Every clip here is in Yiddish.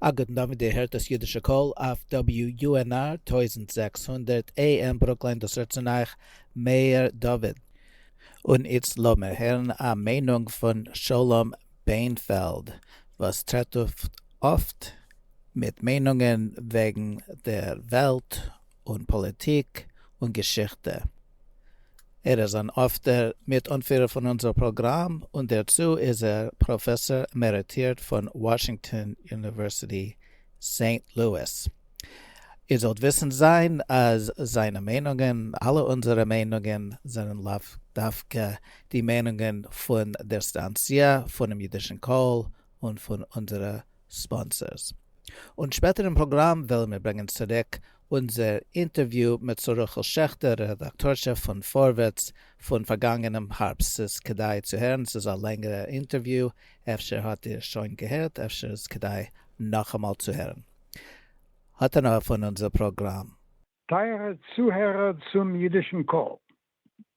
א גוטן דאווענט, איר הערט דאס אידישע קול אויף WUNR טויזנט זעקס הונדערט AM ברוקלין, דאס רעדט צון אייך מאיר דוד. און איצט לאמיר הערן א מיינונג פון שלום בענפעלד וואס טרעט אויף אפט מיט מיינונגען וועגן דער וועלט און פאליטיק און געשיכטע. ער איז אן אפטער מיט-אנפירער פון אונזער פראגראם, און דערצו איז ער פראפעסאר עמעריטירט פון וואשינגטאן אוניווערסיטי סעינט לואיס. איר זאלט וויסן זיין אז זיינע מיינונגען, אלע אונזערע מיינונגען, זענען לאו דווקא די מיינונגען פון דער סטאנציע, פונעם אידישן קול, און פון אונזערע ספאנסערס. און שפעטער אין פראגראם וועלן מיר ברענגען צוריק אונזער אינטערוויו מיט שרה רחל שעכטער, רעדאקטארשע פון פארווערטס, פון פארגאנגענעם הארבסט, ס'איז כדאי צו הערן, ס'איז א לענגערע אינטערוויו, אפשר האט איר שוין געהערט, אפשר איז כדאי נאכאמאל צו הערן. האט הנאה פון אונזער פראגראם. טייערע צוהערער צום אידישן קול.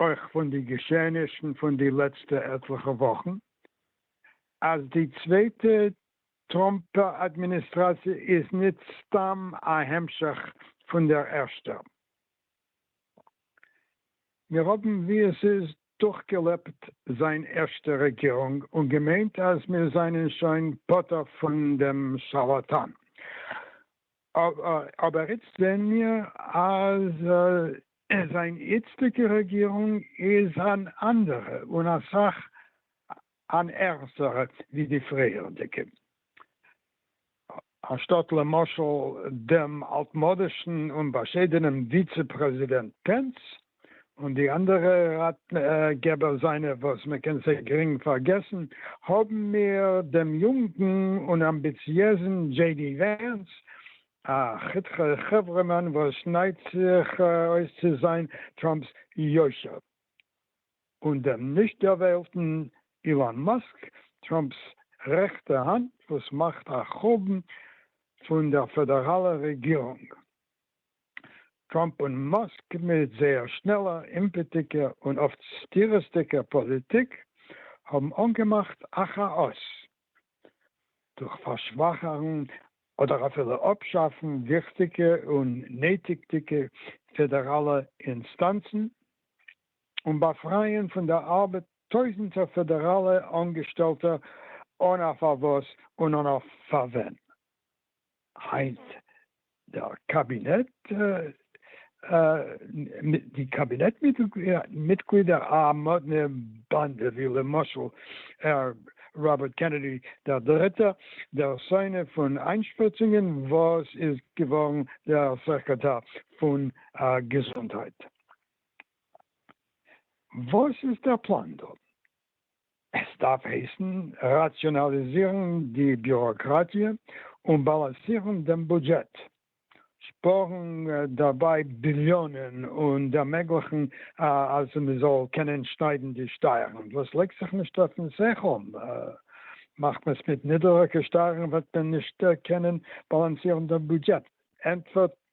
אויך פון די געשעענישן פון די לעצטע עטליכע וואכן, אז די צווייטע טראמפ אדמיניסטראציע איז ניט סתם א המשך פון דער ערשטער. מיר האבן, ווי עס איז, דורכגעלעבט זיין ערשטע רעגירונג און געמיינט אז מיר זיינען שוין פטור פון דעם שארלאטאן. אבער איצט זעהן מיר אז זיין איצטיגע רעגירונג איז אן אנדערע און אסאך אן ערגסערע ווי די פריערדיגע. אנשטאט למשל דעם אלטמאדישן און באשיידענעם וויצע פרעזידענט פענס, און די אנדערע ראטגעבער זיינע וואס מען קען זיי גרינג פארגעסן, האבן מיר דעם יונגן און אמביציעזן דזשעי די ווענס, א חתיכע חברה'מאן וואס שניידט זיך אויס צו זיין טראמפ'ס יושר, און דעם נישט ערוועלטן אילאן מאסק, טראמפ'ס רעכטע האנט וואס מאכט א חורבן פון דער פעדעראלער רעגירונג. טראמפ און מאסק מיט זייער שנעלער, אימפעטיגער און אפט סתירות'דיגער פאליטיק האבן אנגעמאכט א כאאס דורך פארשוואכערן אדער אפילו אפשאפן וויכטיגע און נויטיגדיגע פעדעראלע אינסטאנצן און באפרייען פון דער ארבעט טויזנטער פעדעראלע אנגעשטעלטע אן א פארוואס און אן א פארווען. היינט דער קאבינעט, די קאבינעט מיטגלידער א מאדנע באנדע ווי למשל ר ראבערט קענעדי דער דריטער, דער שונא פון איינשפריצונגען וואס איז געווארן דער סעקרעטאר פון געזונטהייט. וואס איז דער פלאן דא? עס דארף הייסן ראציאנאליזירן די ביוראקראטיע און באלאנסירן דעם בודזשעט, שפארן דערביי ביליאנען און ערמעגליכן אז מען זאל קענען שניידן די שטייערן וואס לייגט זיך נישט אויפן שכל, מאכט מען עס מיט נידעריגע שטייערן וועט מען נישט קענען באלאנסירן דעם בודזשעט, ענטפערט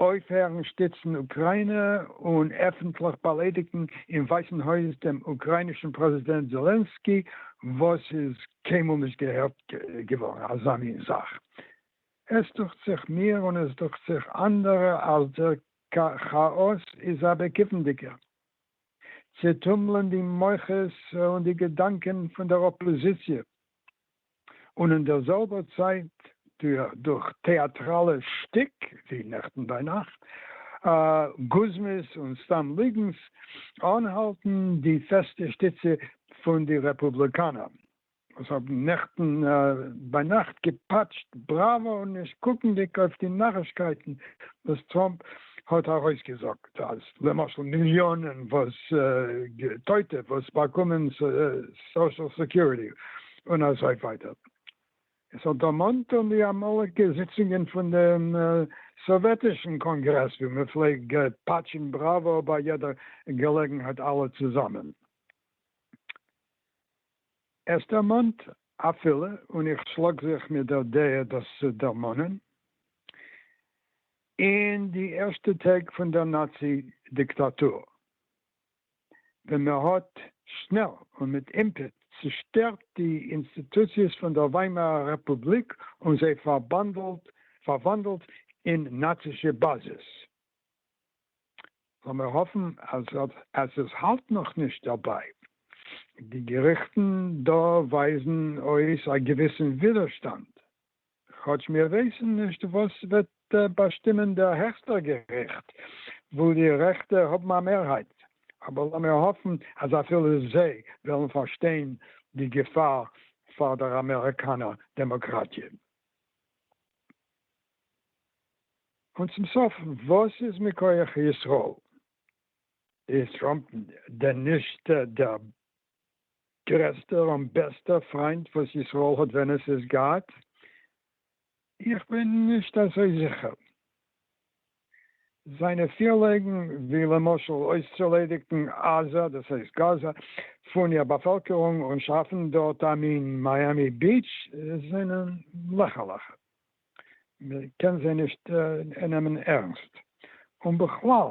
אויפהערן שטיצן אוקראינע און עפנטליך באליידיגן אין ווייסן הויז דעם אוקראינישן פרעזידענט זעלענסקי וואס איז קיינמאל נישט געהערט געווארן אזא מין זאך. עס דוכט זיך מיר און עס דוכט זיך אנדערע אז דער כאאס איז א בעקיפנדיגער צעטומלען די מוחות און די געדאנקען פון דער אפאזיציע און אין דער זעלבער צייט דורך טעאַטראַלע שטיק ווי נעכטן ביי נאַכט, גוזמות און סתם ליגנס, אָנהאַלטן די פעסטע שטיצע פון די רעפּובליקאַנער, וואָס האָבן נעכטן ביי נאַכט געפּאַטשט בראַוואָ, נישט קוקנדיק אויף די נאַרישקייטן וואָס טראָמפּ האט ארויסגעזאגט אז למשל מיליאנען וואס טויטע וואס באקומען סאשעל סעקיוריטי און אזוי ווייטער, עס האט דערמאנט אן די אמאליגע זיצונגען פון דעם סאוועטישן קאנגרעס ווי מען פלעג פאטשן בראווא ביי יעדע געלעגנהייט אלע צוזאמען, עס דערמאנט אפילו, און איך שלאג זיך מיט דער דעה דאס צו דערמאנען, אין די ערשטע טעג פון דער נאצי דיקטאטור, ווען מען האט שנעל און מיט אימפעט צושטערט די אינסטיטוציעס פון דער וויימארער רעפובליק און זיי פארוואנדלט אין נאצישע באזעס. לאמיר האפן אז עס האלט נאך נישט דערביי. די געריכטן דא ווייזן אויס א געוויסן ווידערשטאנד. כאטש מיר ווייסן נישט וואס וועט באשטימען דער העכסטער געריכט, וואו די רעכטע האבן א מערהייט, אבער לאמיר האפן אז אפילו זיי וועלן פארשטיין די געפאר פאר דער אמעריקאנער דעמאקראטיע. און צום סוף, וואס איז מכח ישראל? איז טראמפ דען נישט דער גרעסטער און בעסטער פריינט וואס ישראל האט ווען עס איז געהאט? איך בין נישט אזוי זיכער. זיינע פירלעגן ווי למשל אויסצוליידיגן עזה, דאס הייסט גאזא, פון איר באפעלקערונג און שאפן דארט א מין מיאמי ביעטש זענען לעכערליכע. מען קען זיי נישט נעמען ערנסט. און בכלל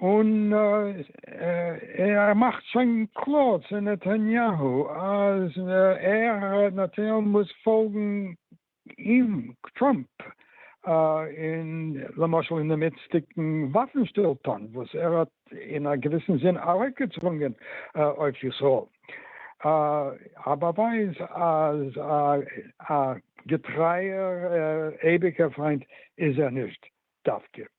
און ער מאכט שוין קלאר צו נתניהו אז ער נתניהו מוז פאלגן אים טראמפ אין למשל אין דעם איצטיגן וואפן שטילטאן וואס ער האט אין א געוויסן זין ארויפגעצוואונגען אויף ישראל, א באווייז אז א געטרייער אייביגער פריינט איז ער נישט דווקא.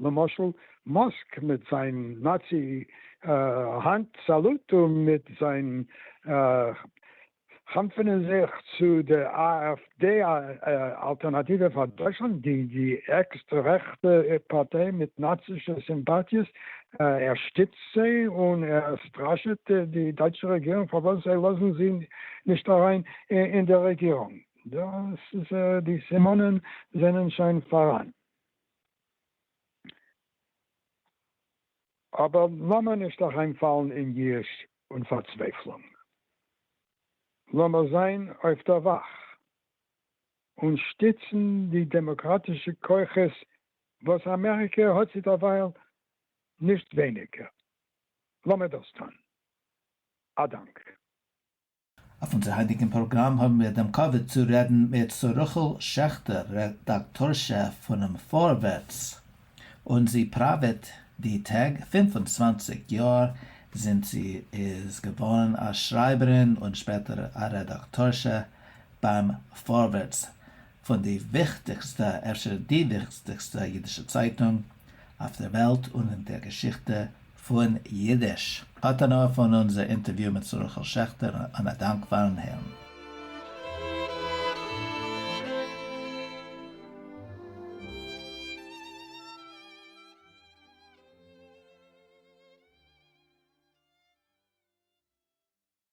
למשל מאסק מיט זיין נאצי האנט סאלוט און מיט זיין חנפענען זיך צו די AFD אלטערנאטיווע פאר דויטשלאנד די עקסטרע רעכטע פארטיי מיט נאצישע סימפאטיעס ער שטיצט זיי און ער סטראשעט די דייטשע רעגירונג פארוואס זיי לאזן זי נישט אריין אין די רעגירונג. דאס איז די סימנים זענען שוין פאראן. אבער לאמיר נישט אריינפאלן אין יאוש און פארצווייפלונג. לאמיר זיין אויף דער וואך און שטיצן די דעמאקראטישע כוחות וואס אמעריקע האט צו דערווייל נישט ווייניגער. לאמיר דאס טאן. א דאנק. אויף אונזער היינטיגן פראגראם האבן מיר דעם כבוד צו רעדן מיט ס'רחל שעכטער, רעדאקטארשע פונעם פארווערטס, און זי פראוועט די טעג, פֿינף און צוואַנציק יאר זינט זי איז געווארן א שרייבערין און שפעטער א רעדאקטארשע ביים פארווערטס, פון די וויכטיגסטע, אפשר די וויכטיגסטע, אידישע צייטונג אויף דער וועלט און אין דער געשיכטע פון אידיש. התנא פון אונזער אינטערוויו מיט זרח'ל שעכטער, און א דאנק פאר'ן הערן.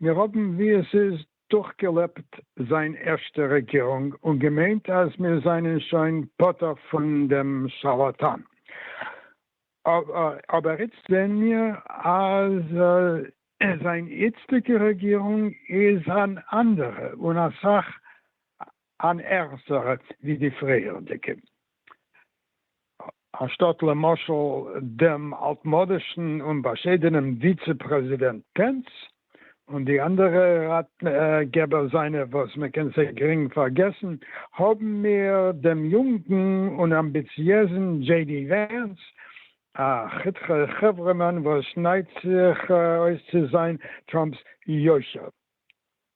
מיר האבן ווי עס איז דורכגעלעבט זיין ערשטע רעגירונג און געמיינט אז מיר זענען שוין פטור פון דעם שארלאטאן, אבער איצט זעען מיר אז זיין איצטיגע רעגירונג איז אן אנדערע און אסאך אן ערגערע ווי די פריערדיגע, אנשטאט למשל דעם אלטמאדישן און באשיידענעם וויצע פרעזידענט פענס און די אנדערע ראטגעבער זיינע וואס מען קען זיי גרינג פארגעסן, האבן מיר דעם יונגן און אמביציעזן דזשעי די ווענס, א חתיכע חברה'מאן וואס שניידט זיך אויס צו זיין טראמפ'ס יושר.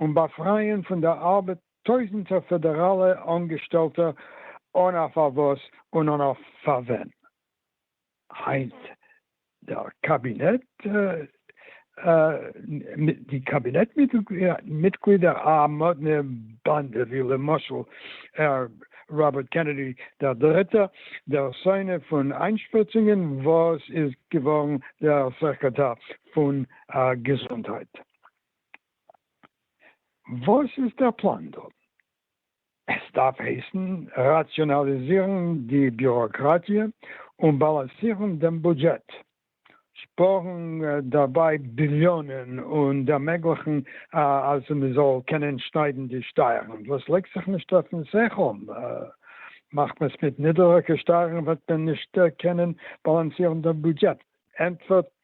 און באפרייען פון דער ארבעט טויזנטער פעדעראלע אנגעשטעלטע אן א פארוואס און אן א פארווען. היינט דער קאבינעט מיט די קאבינעט מיטגלידער א מאדנע באנדע ווי למשל הער ראבערט קענעדי דער דריטער, דער שונא פון איינשפריצונגען וואס איז געווארן דער סעקרעטאר פון געזונטהייט. וואס איז דער פלאן דא? עס דארף הייסן ראציאנאליזירן די ביוראקראטיע און באלאנסירן דעם בודזשעט, שפארן דערביי ביליאנען און ערמעגליכן אז מען זאל קענען שניידן די שטייערן וואס לייגט זיך נישט אויפן שכל, מאכט מען עס מיט נידעריגע שטייערן וועט מען נישט קענען באלאנסירן דעם בודזשעט, ענטפערט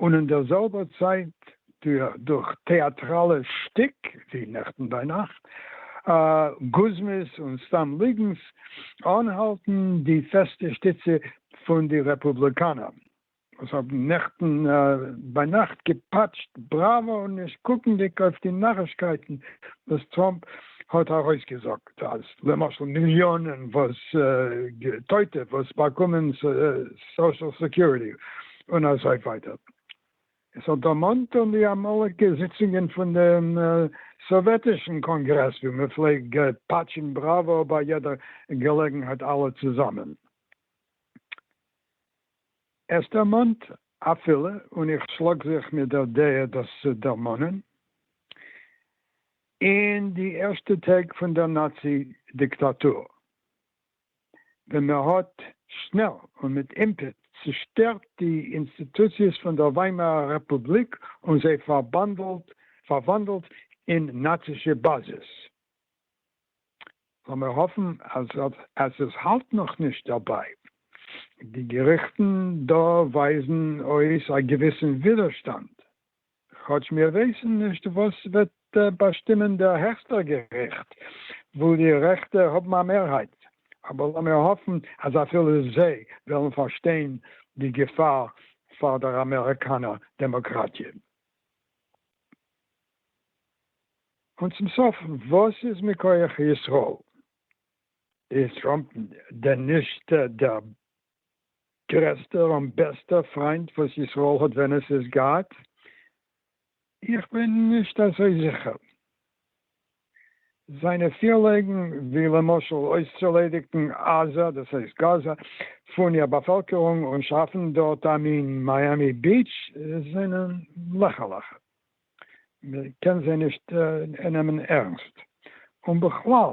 און אין דער זעלבער צייט דורך טעאטראלע שטיק ווי נעכטן ביינאכט, גוזמות און סתם ליגנס, אנהאלטן די פעסטע שטיצע פון די רעפובליקאנער וואס האבן נעכטן ביינאכט געפאטשט בראווא נישט קוקנדיג אויף די נארישקייטן וואס טראמפ האט ארויסגעזאגט אז למשל מיליאנען טויטע וואס באקומען סאושעל סעקיוריטי און אזוי ווייטער. עס האט דערמאנט אן די אמאליגע זיצונגען פון דעם סאוועטישן קאנגרעס ווי מען פלעג פאטשן בראווא ביי יעדע געלעגנהייט אלע צוזאמען. עס דערמאנט אפילו, און איך שלאג זיך מיט דער דעה דאס צו דערמאנען, אין די ערשטע טעג פון דער נאצי דיקטאטור. ווען מען האט שנעל און מיט אימפעט צושטערט די אינסטיטוציעס פון דער וויימארער רעפובליק און זיי פארוואנדלט אין נאצישע באזעס. לאמיר האפן אז עס האלט נאך נישט דערביי. די געריכטן דא ווייזן אויס א געוויסן ווידערשטאנד. כאטש מיר ווייסן נישט וואס וועט באשטימען דער העכסטער געריכט, וואו די רעכטע האבן א מערהייט, אבער לאמיר האפן אז אפילו זיי וועלן פארשטיין די געפאר פאר דער אמעריקאנער דעמאקראטיע. און צום סוף, וואס איז מכח ישראל? איז טראמפ דען נישט דער גרעסטער און בעסטער פריינט וואס ישראל האט ווען עס איז געהאט? איך בין נישט אזוי זיכער. זיינע פירלעגן ווי למשל אויסצוליידיגן עזה, דאס הייסט גאזא, פון איר באפעלקערונג און שאפן דארט א מין מיאמי ביעטש זענען לעכערליך. מען קען זיי נישט נעמען ערנסט. און בכלל.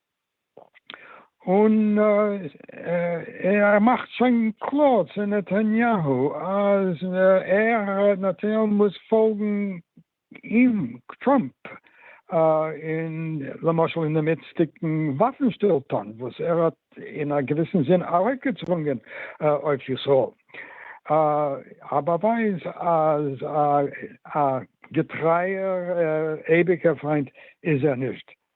און ער מאכט שוין קלאר צו נתניהו אז ער נתניהו מוז פאלגן אים טראמפ אין למשל אין דעם איצטיגן וואפן שטילטאנד וואס ער האט אין א געוויסן זין ארויפגעצוואונגען אויף ישראל, א באווייז אז א געטרייער אייביגער פריינט איז ער נישט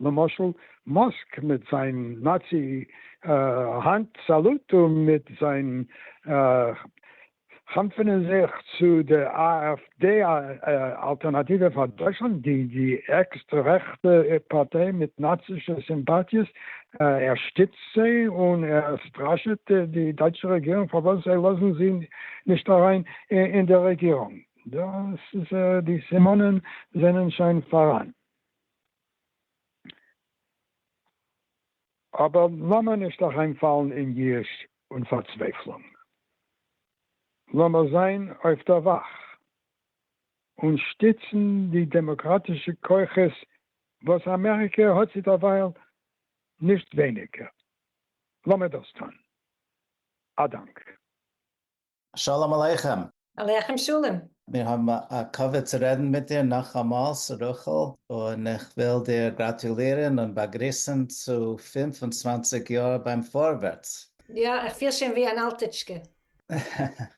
למשל מאסק מיט זיין נאצי האנט סאלוט און מיט זיין חנפענען זיך צו די AFD אלטערנאטיווע פאר דויטשלאנד, די עקסטרע רעכטע פארטיי מיט נאצישע סימפאטיעס, ער שטיצט זיי און ער סטראשעט די דייטשע רעגירונג פארוואס זיי לאזן זי נישט אריין אין די רעגירונג. דאס איז די סימנים זענען שוין פאראן. אבער לאמיר נישט אריין פאלן אין יאוש און פארצווייפלונג. לאמיר זיין אויף דער וואך און שטיצן די דעמאקראטישע כוחות וואס אמעריקע האט צו דערווייל נישט ווייניגער. לאמיר דאס טון. א דאנק. שלום עליכם! עליכם שלום! מיר האבן א כבוד צו רעדן מיט דיר נאכאמאל, ס'רחל, און איך וויל דיר גראטולירן און באגריסן צו פֿינף און צוואַנציק יאר ביים פארווערטס! יא, איך פיל שוין ווי אן אלטיטשקע.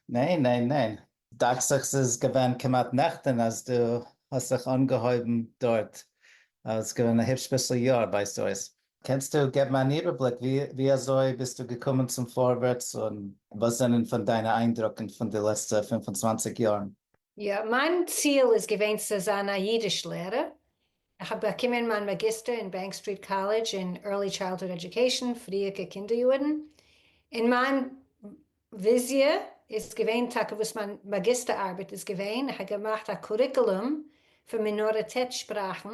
ניין ניין ניין, דאכט זיך ס'איז געווען כמעט נעכטן אז דו האסט זיך אנגעהויבן דארט, ס'איז געווען א היפש ביסל יאר ווייזט אויס. קענסטו געבן אן איבערבליק ווי אזוי ביסטו געקומען צום פארווערטס און וואס זענען פון דיינע איינדרוקן פון די לעצטע פֿינף און צוואַנציק יארן? יא, מיין ציל איז געווען צו זיין א אידיש לערער, איך האב באקומען מיין מאגיסטער אין בענק סטריט קאלעדזש אין ערלי טשיילדהוד עדיוקעישאן, פריערקע קינדער יארן, און מיין וויזיע איז געווען טאקע וואס מיין מאגיסטער ארבעט איז געווען, איך האב געמאכט א קוריקולום פון מינאריטעט שפראכן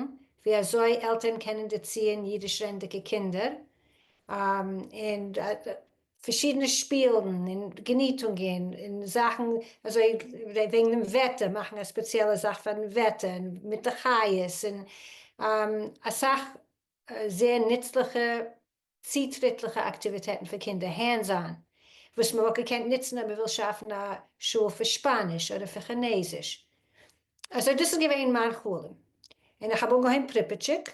ווי אזוי עלטערן קענען דערציען אידיש רעדנדיגע קינדער, און פארשידענע שפילן און געניטונגען און זאכן אזוי וועגן דעם וועטער, מאכן א ספעציעלע זאך פארן וועטער מיט די חיות, און אסאך זייער נוצליכע צוטריטליכע אקטיוויטעטן פאר קינדער, הענדס אן, וואס מען וואלט געקענט נוצן אויב מען וויל שאפן א שול פאר שפאניש אדער פאר כינעזיש. אזוי דאס איז געווען מיין חלום, און איך האב אנגעהויבן פריפיטשיק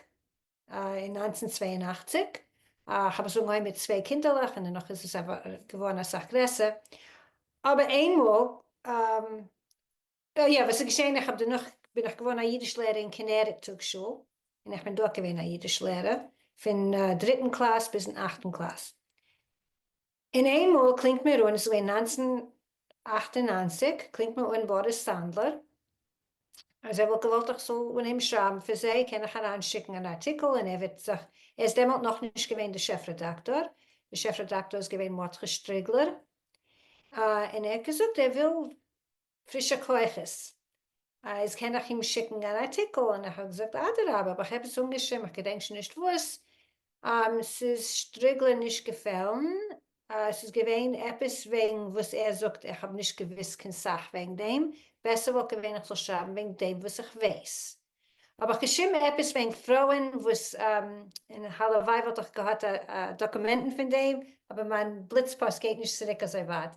אין נײַנצן צוויי און אַכציק, איך האב עס אנגעהויבן מיט צוויי קינדערלעך און דערנאך איז עס געווארן אסאך גרעסער, אבער איינמאל יא, וואס איז געשען, איך האב דערנאך בין איך געווארן א אידיש לערער אין כנרת טאג שול, און איך בין דארט געווען א אידיש לערער פון דריטן קלאס ביזן אכטן קלאס, און איינמאל קלינגט מיר אן, עס איז געווען נײַנצן אַכט און נײַנציק, קלינגט מיר אן באריס סאנדלער אז ער וואלט געוואלט איך זאל אנהייבן שרייבן פאר זיי, קען איך אריין שיקן אן ארטיקל, און ער וועט זיך, ער איז דעמאלט נאכנישט געווען דער שעף רעדאקטאר, דער שעף רעדאקטאר איז געווען מרדכי שטריגלער, און ער האט געזאגט ער וויל. פרישע כוחות. איז קען איך אים שיקן אן ארטיקל? און איך האב געזאגט אדרבה, האב איך עפעס אנגעשריבן, איך געדענק שוין נישט וואס, ס'איז שטריגלען נישט געפעלן, ס'איז געווען עפעס וועגן וואס ער זאגט, איך האב נישט געוואוסט קיין סאך וועגן דעם, בעסער וואלט געווען איך זאל שרייבן וועגן דעם וואס איך ווייס. האב איך געשריבן עפעס וועגן פרויען וואס, און הלוואי וואלט איך געהאט דאקומענטן פון דעם, אבער מיין בליץ פאסט גייט נישט צוריק אזוי ווייט.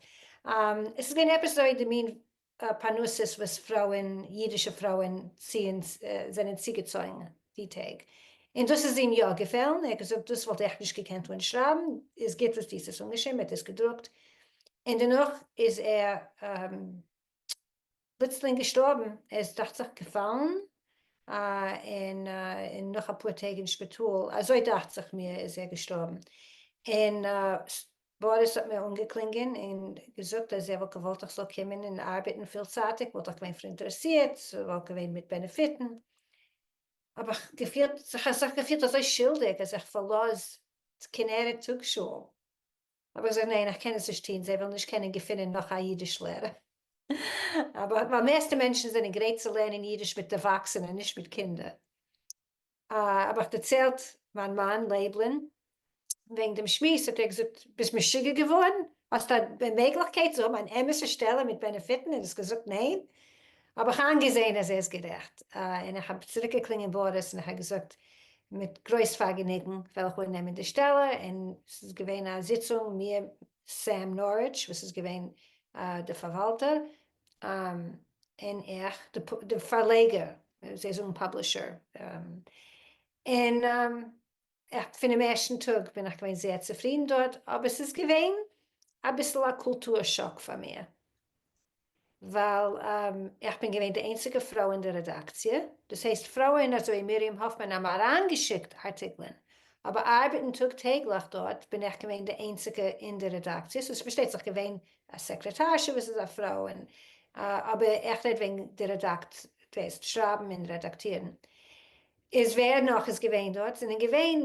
עס איז געווען עפעס אזוי די מין פרנסות וואס פרויען, אידישע פרויען, ציען, זענען צוגעצויגן די טעג, און דאס איז אים יא געפעלן, ער האט געזאגט דאס וואלט איך נישט געקענט אנשרייבן, איז גוט וואס דו האסט עס אנגעשריבן, ער האט עס געדרוקט, און דערנאך איז ער פלוצלינג געשטארבן, ער איז דאכט זיך געפאלן און און נאך אפאר טעג אין שפיטאל, אזוי דאכט זיך מיר איז ער געשטארבן, און באריס האט מיר אנגעקלינגען און געזאגט אז ער וואלט געוואלט איך זאל קומען און ארבעטן פילצייטיג, וואלט איך געווען פאראינטערעסירט, ס'וואלט געווען מיט בענעפיטן, האב איך געפילט, זיך אזוי געפילט אזוי שולדיג אז איך פארלאז כנרת טאג שול. האב איך געזאגט ניין איך קען עס נישט טון זיי וועלן נישט קענען געפינען נאך א אידיש לערער ווייל מערסטע מענטשן זענען גרייט צו לערנען אידיש מיט ערוואקסענע נישט מיט קינדער. האב איך דערציילט מיין מאן לייבל'ן וועגן דעם שמועס האט ער געזאגט ביסט משוגע געווארן? האסט א מעגליכקייט צו האבן אן אמת'ע שטעלע מיט בענעפיטן און האסט געזאגט ניין? האב איך איינגעזעהן אז ער איז גערעכט, און איך האב צוריקגעקלינגען באריס און איך האב געזאגט מיט גרויס פארגעניגן וועל איך אננעמען די שטעלע, און ס'איז געווען א זיצונג מיר סעם נאריטש וואס איז געווען די פארוואלטער, און איך די פארלעגער, זיי זאגן פאבלישער, און איך פונעם ערשטן טאג בין איך געווען זייער צופרידן דארט, אבער ס'איז געווען אביסל א קולטור שאק פאר מיר, ווייל איך בין געווען די איינציגע פרוי אין די רעדאקציע, דאס הייסט פרויען אזוי מרים האפמאן האבן אריינגעשיקט ארטיקלען, אבער ארבעטן טאג טעגליך דארט בין איך געווען די איינציגע אין די רעדאקציע, ס'איז פארשטייט זיך געווען א סעקרעטארשע וואס איז א פרוי, אבער איך רעד וועגן די רעדאקציע, דאס הייסט שרייבן און רעדאקטירן, איז ווער נאך איז געווען דארט? זענען געווען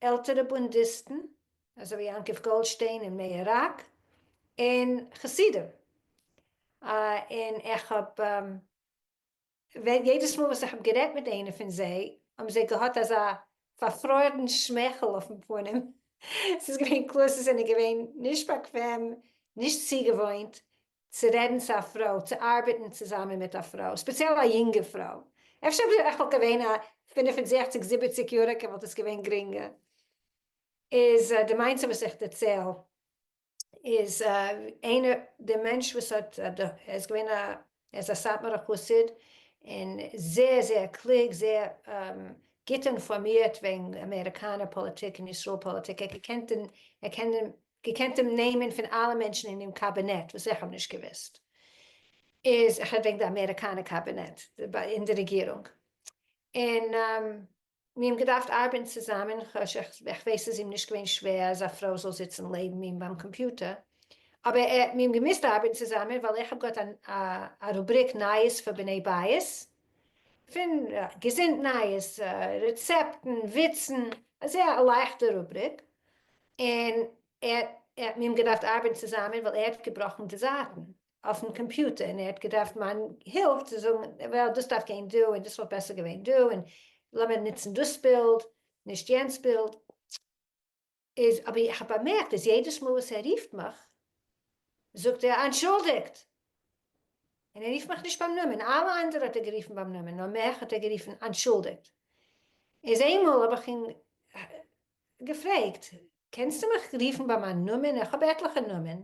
עלטערע בונדיסטן אזוי ווי יעקב גאלדשטיין און מאיר ראק און חסידים און איך האב ווען יעדעס מאל וואס איך האב גערעדט מיט איינע פון זיי האבן זיי געהאט אזא פארפרוירן שמייכל אויפן פנים ס'איז געווען קלאר זיי זענען געווען נישט באקוועם נישט צוגעוואוינט צו רעדן צו א פרוי, צו ארבעטן צוזאמען מיט א פרוי, ספעציעל א יונגע פרוי, אפשר אויב איך וואלט געווען א פֿינף און זעכציק זיבעציק יעריגע וואלט עס געווען גרינגער, איז די מיינסט וואס איך דערצייל איז איינער די מענטש וואס האט ער איז געווען א ער איז א סאטמארע חסיד און זייער זייער קלוג זייער גוט אינפארמירט וועגן אמעריקאנער פאליטיק און ישראל פאליטיק ער קען געקענט דעם נעמען פון אלע מענטשן אינעם קאבינעט וואס איך האב נישט געוואוסט איז איך רעד וועגן די אמעריקאנע קאבינעט אין די רעגירונג און מיר האבן געדארפט ארבעטן צוזאמען איך ווייס ס'איז אים נישט געווען שווער אז א פרוי זאל זיצן לעבן אים ביים קאמפיוטער אבער מיר האבן געמוזט ארבעטן צוזאמען ווייל איך האב געהאט א רובריק נייעס פאר בני בית פון געזונט נייעס, רעצעפטן, וויצן, אזוי א לייכטע רובריק, און ער האט מיט אים געדארפט ארבעטן צוזאמען ווייל ער האט געבראכן די זייטן אויפן קאמפיוטער און ער האט געדארפט מיין הילף צו זאגן וועל דאס דארף גיין דא און דאס וואלט בעסער געווען דא און לאמיר נוצן דאס בילד נישט יענץ בילד. איז אבער איך האב באמערקט אז יעדעס מאל וואס ער רופט מיך זאגט ער אנטשולדיגט און ער רופט מיך נישט ביים נאמען, אלע אנדערע האט ער גערופן ביים נאמען נאר מיך האט ער גערופן אנטשולדיגט, איז איינמאל האב איך אים געפרעגט קענסטו מיך רופן ביי מיין נאמען איך האב עטליכע נאמען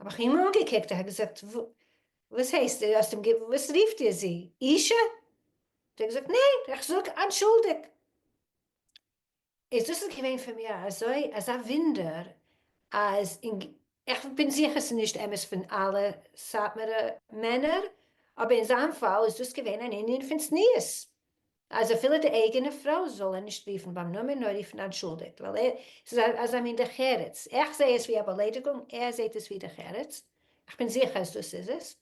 האב איך אים אנגעקוקט, איך האב געזאגט וואס הייסט דו האסט אים גע וואס רופט איר זי? אישה? האט ער געזאגט ניין, איך זאג אנטשולדיג. איז דאס איז געווען פאר מיר אזוי אזא ווינדער אז אין ג איך בין זיכער ס'איז נישט אמת פון אלע סאטמארע מענער, אבער אין זיין פאל איז דאס געווען אן ענין פון צניעות, אז אפילו די אייגענע פרוי זאל ער נישט רופן ביים נאמען נאר רופן אנטשולדיגט ווייל ער ס'איז א אזא מין דרך ארץ איך זע עס ווי א באליידיגונג ער זעט עס ווי דרך ארץ איך בין זיכער אז דאס איז עס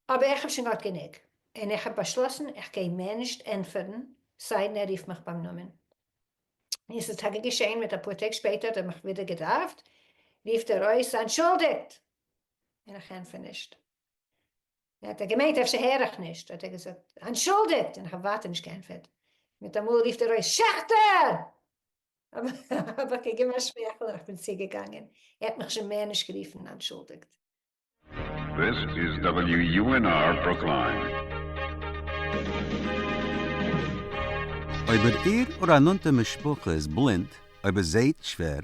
אבער איך האב שוין געהאט גענוג און איך האב באשלאסן איך גיי מער נישט ענטפערן סיידן ער רופט מיך ביים נאמען און ס'איז טאקע געשען מיט אפאר טעג שפעטער האט ער מיך ווידער געדארפט רופט ער אויס אנטשולדיגט און איך ענטפער נישט. האט ער געמיינט אפשר הער איך נישט, האט ער געזאגט אנטשולדיגט און איך האב ווייטער נישט געענטפערט, מיטאמאל רופט ער אויס שעכטער! האב איך געגעבן א שמייכל און איך בין צוגעגאנגען, ער האט מיך שוין מער נישט גערופן אנטשולדיגט. This is WUNR Brookline. אויב איר איר אָר אַ נאָנטע משפּחה איז בלינד, אויב עס זעט שווער,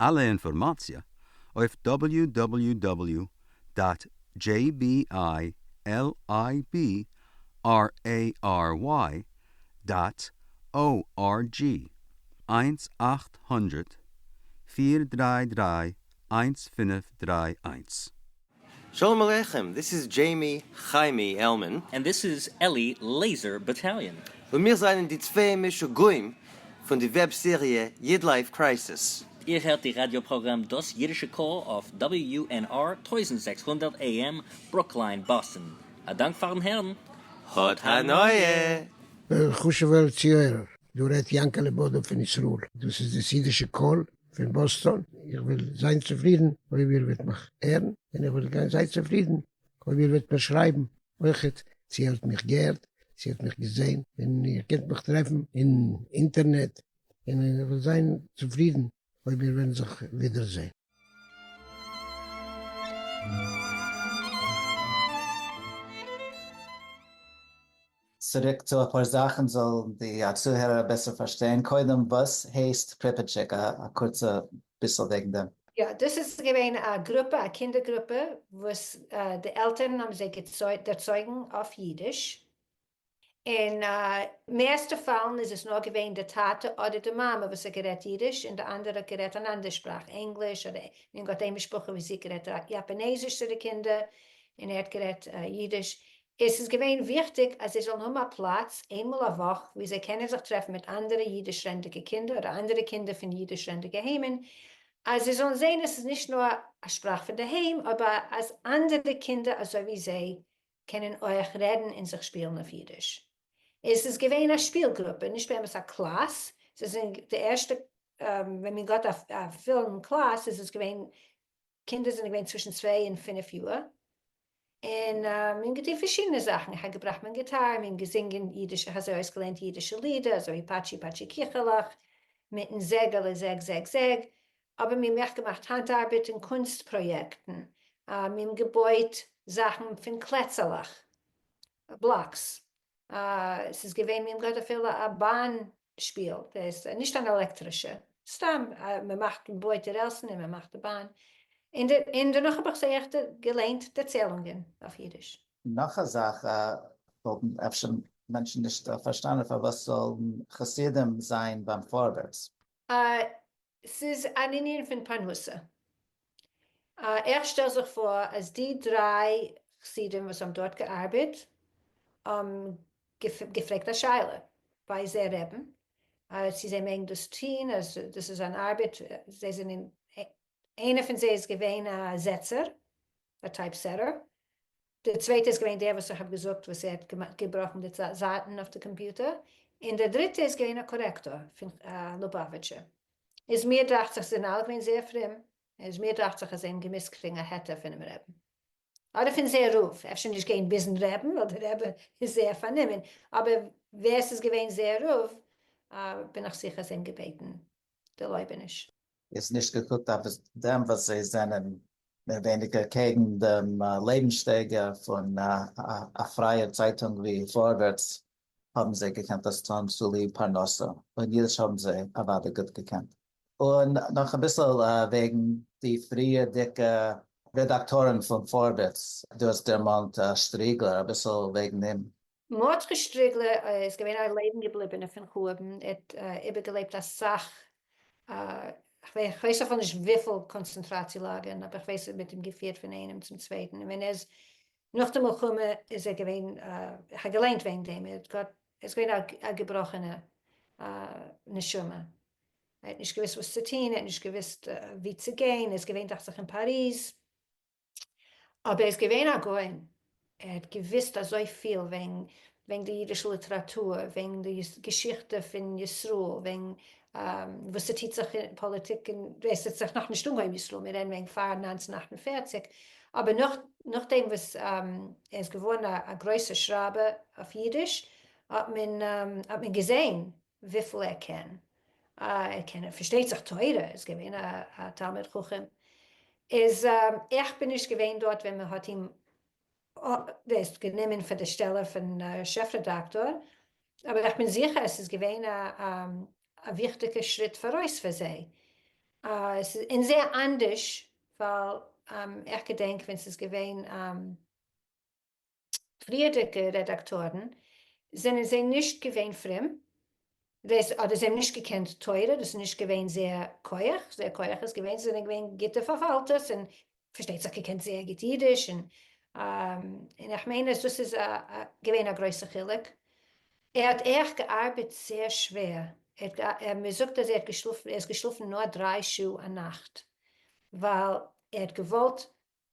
אלע אינפארמאציע אויף דאבעליו דאבעליו דאבעליו דאט דזשעי בי איי על איי בי אר עי אר וויי דאט או אר דזשי, איינס אַכט הונדערט פֿיר דרײַ דרײַ איינס פֿינף דרײַ איינס. שלום עליכם, דיס איז דזשעימי חיימי עלמען. און דיס איז אלי לעיזער באטאליאן. און מיר זענען די צוויי משוגעים פון די וועב סעריע איד לייף קרייסיס. איר הערט די ראדיא פראגראם דאס אידישע קול אויף WNR טויזנט זעקס הונדערט AM ברוקלין באסטן. א דאנק פארן הערן. האט הנאה! חשוב'ער צוהערער, דא רעדט יענקעלע בודא פון ישראל. דאס איז דאס אידישע קול. פון באסטאן, איך וועל זיין צופרידן אויב איר וועט מיך הערן, און איך וועל זיין צופרידן אויב איר וועט מיר שרייבן אויכעט צו איר האט מיך געהערט, צו איר האט מיך געזען, און איר קענט מיך טרעפן אין אינטערנעט, און איך וועל זיין צופרידן אויב מיר וועלן זיך ווידער זען. צוריק צו אפאר זאכן זאל די א צוהערער בעסער פארשטיין, קודם וואס הייסט פריפיטשיק? א קורצע ביסל וועגן דעם. יא, דאס איז געווען א גרופע, א קינדער גרופע וואס די עלטערן האבן זיי ערצויגן אויף אידיש, און מערסטע פאלן איז עס נאר געווען די טאטע אדער די מאמע וואס האט גערעדט אידיש און די אנדערע האט גערעדט אן אנדער שפראך, ענגליש אדער און געהאט איין משפחה וואס זי האט גערעדט יאפאנעזיש צו די קינדער און ער האט גערעדט אידיש, עס איז געווען וויכטיג אז זיי זאלן האבן א פלאץ איינמאל א וואך וואו זיי קענען זיך טרעפן מיט אנדערע אידיש-רעדנדיגע קינדער אדער אנדערע קינדער פון אידיש-רעדנדיגע היימען, אז זיי זאלן זען אז עס איז נישט נאר א שפראך פון די היים, אבער אז אנדערע קינדער אזוי ווי זיי קענען אויך רעדן און זיך שפילן אויף אידיש. עס איז געווען א שפיל גרופע, נישט באמת א קלאס, זיי זענען די ערשטע, ווען מען געהאט א פולן קלאס איז עס געווען קינדער זענען געווען צווישן צוויי און פינף יאר, און מען האט געטון פארשידענע זאכן, איך האב געבראכט מיין גיטאר, מען געזינגען אידישע, איך האב זיי אויסגעלערנט אידישע לידער, אזוי פאטשי פאטשי קיכעלעך, מיטן זעגעלע זעג זעג זעג, אבער מיר האבן אויך געמאכט האנט ארבעט און קונסט פראיעקטן, מיר האבן געבויט זאכן פון קלעצעלעך, בלאקס, ס'איז געווען, מיר האבן געהאט אפילו א באן שפיל דאס, נישט אן עלעקטרישע, סתם מען מאכט מען בויט די רעלסן און מען מאכט די באן, און דערנאך האב איך זיי עכט געליינט דערציילונגען אויף אידיש. נאך א זאך וואלטן אפשר מענטשן נישט פארשטאנען פארוואס זאלן חסידים זיין ביים פארווערטס? ס'איז אן ענין פון פרנסה. איך שטעל זיך פאר אז די דריי חסידים וואס האבן דארט געארבעט האבן געפרעגט א שאלה ביי זייער רעבין צו זיי מעגן דאס טוהן אז דאס איז אן ארבעט זיי זענען איינער פון זיי איז געווען א זעצער א טייפסעטער די צווייטע איז געווען דער וואס איך האב געזאגט וואס ער האט געבראכן די זייטן אויף די קאמפיוטער, און דער דריטע איז געווען א קארעקטאר פון לובאוויטשער, איז מיר דאכט זיך זיי זענען אלע געווען זייער פרום, איז מיר דאכט זיך אז זיי האבן געמוזט קריגן א היתר פונעם רעבן, אדער פון זייער רב, אפשר נישט גיין ביזן רעבן ווייל די רעבע איז זייער פארנומען, אבער ווער עס איז געווען זייער רב בין איך זיכער זיי האבן געבעטן דערלויבעניש. איז נישט געקוקט אויף דעם וואס זיי זענען מער ווייניגער קעגן דעם לעבנסשטייגער פון א פרייער צייטונג ווי פארווערטס, האבן זיי געקענט דאס טון צוליב פרנסה, און אידיש האבן זיי אוודאי גוט געקענט. און נאך אביסל וועגן די פריערדיגע רעדאקטארן פון פארווערטס, דו האסט דערמאנט שטריגלער, אביסל וועגן אים. מרדכי שטריגלער איז געווען א לעבן געבליבענער פון חורבן, ער האט איבערגעלעבט אסאך, כ'ווייס אפילו נישט וויפיל קאנצענטראציע לאגערן, אבער כ'ווייס עס האט מיט אים געפירט פון איינעם צום צווייטן, און ווען ער איז נאך די מלחמה איז ער געווען, איך האב געליינט וועגן דעם, ער איז געווען א געבראכענע נשמה, ער האט נישט געוויסט וואס צו טון, ער האט נישט געוויסט ווי צו גיין, ער איז געווען דאכט זיך אין פאריז, אבער ער איז געווען א גאון, ער האט געוואוסט אזויפיל וועגן די אידישע ליטעראטור, וועגן די געשיכטע פון ישראל, וועגן וואס ס'טוט זיך אין פאליטיק, און ס'האט זיך נאכנישט אנגעהויבן אין ישראל, מיר רעדן וועגן פאר נײַנצן אַכט און פֿערציק, אבער נאכדעם וואס ער איז געווארן א גרויסער שרייבער אויף אידיש האט מען געזען וויפיל ער קען, אה ער קען פארשטייט זיך תורה, איז געווען א תלמיד חכם, איז איך בין נישט געווען דארט ווען מען האט אים ווייסט גענומען פאר די שטעלע פון שעף רעדאקטאר, אבער איך בין זיכער עס איז געווען א וויכטיגע שריט פאראויס פאר זיי, עס איז אין זייער אנדערש ווייל איך געדענק ווען ס'איז געווען. פריערדיגע רעדאקטארן, זענען זיי נישט געווען פרום, דאס אדער זיי האבן נישט געקענט תורה, דאס איז נישט געווען זייער כח, זייער כח איז געווען זיי זענען געווען גוטע פארפאלטערס און פארשטייט זיך געקענט זייער גוט אידיש, און און איך מיין אז דאס איז געווען א גרויסע חילוק, ער האט עכט געארבעט זייער שווער, מען זאגט אז ער האט געשלאפן, ער איז געשלאפן נאר דריי שעה א נאכט, ווייל ער האט געוואלט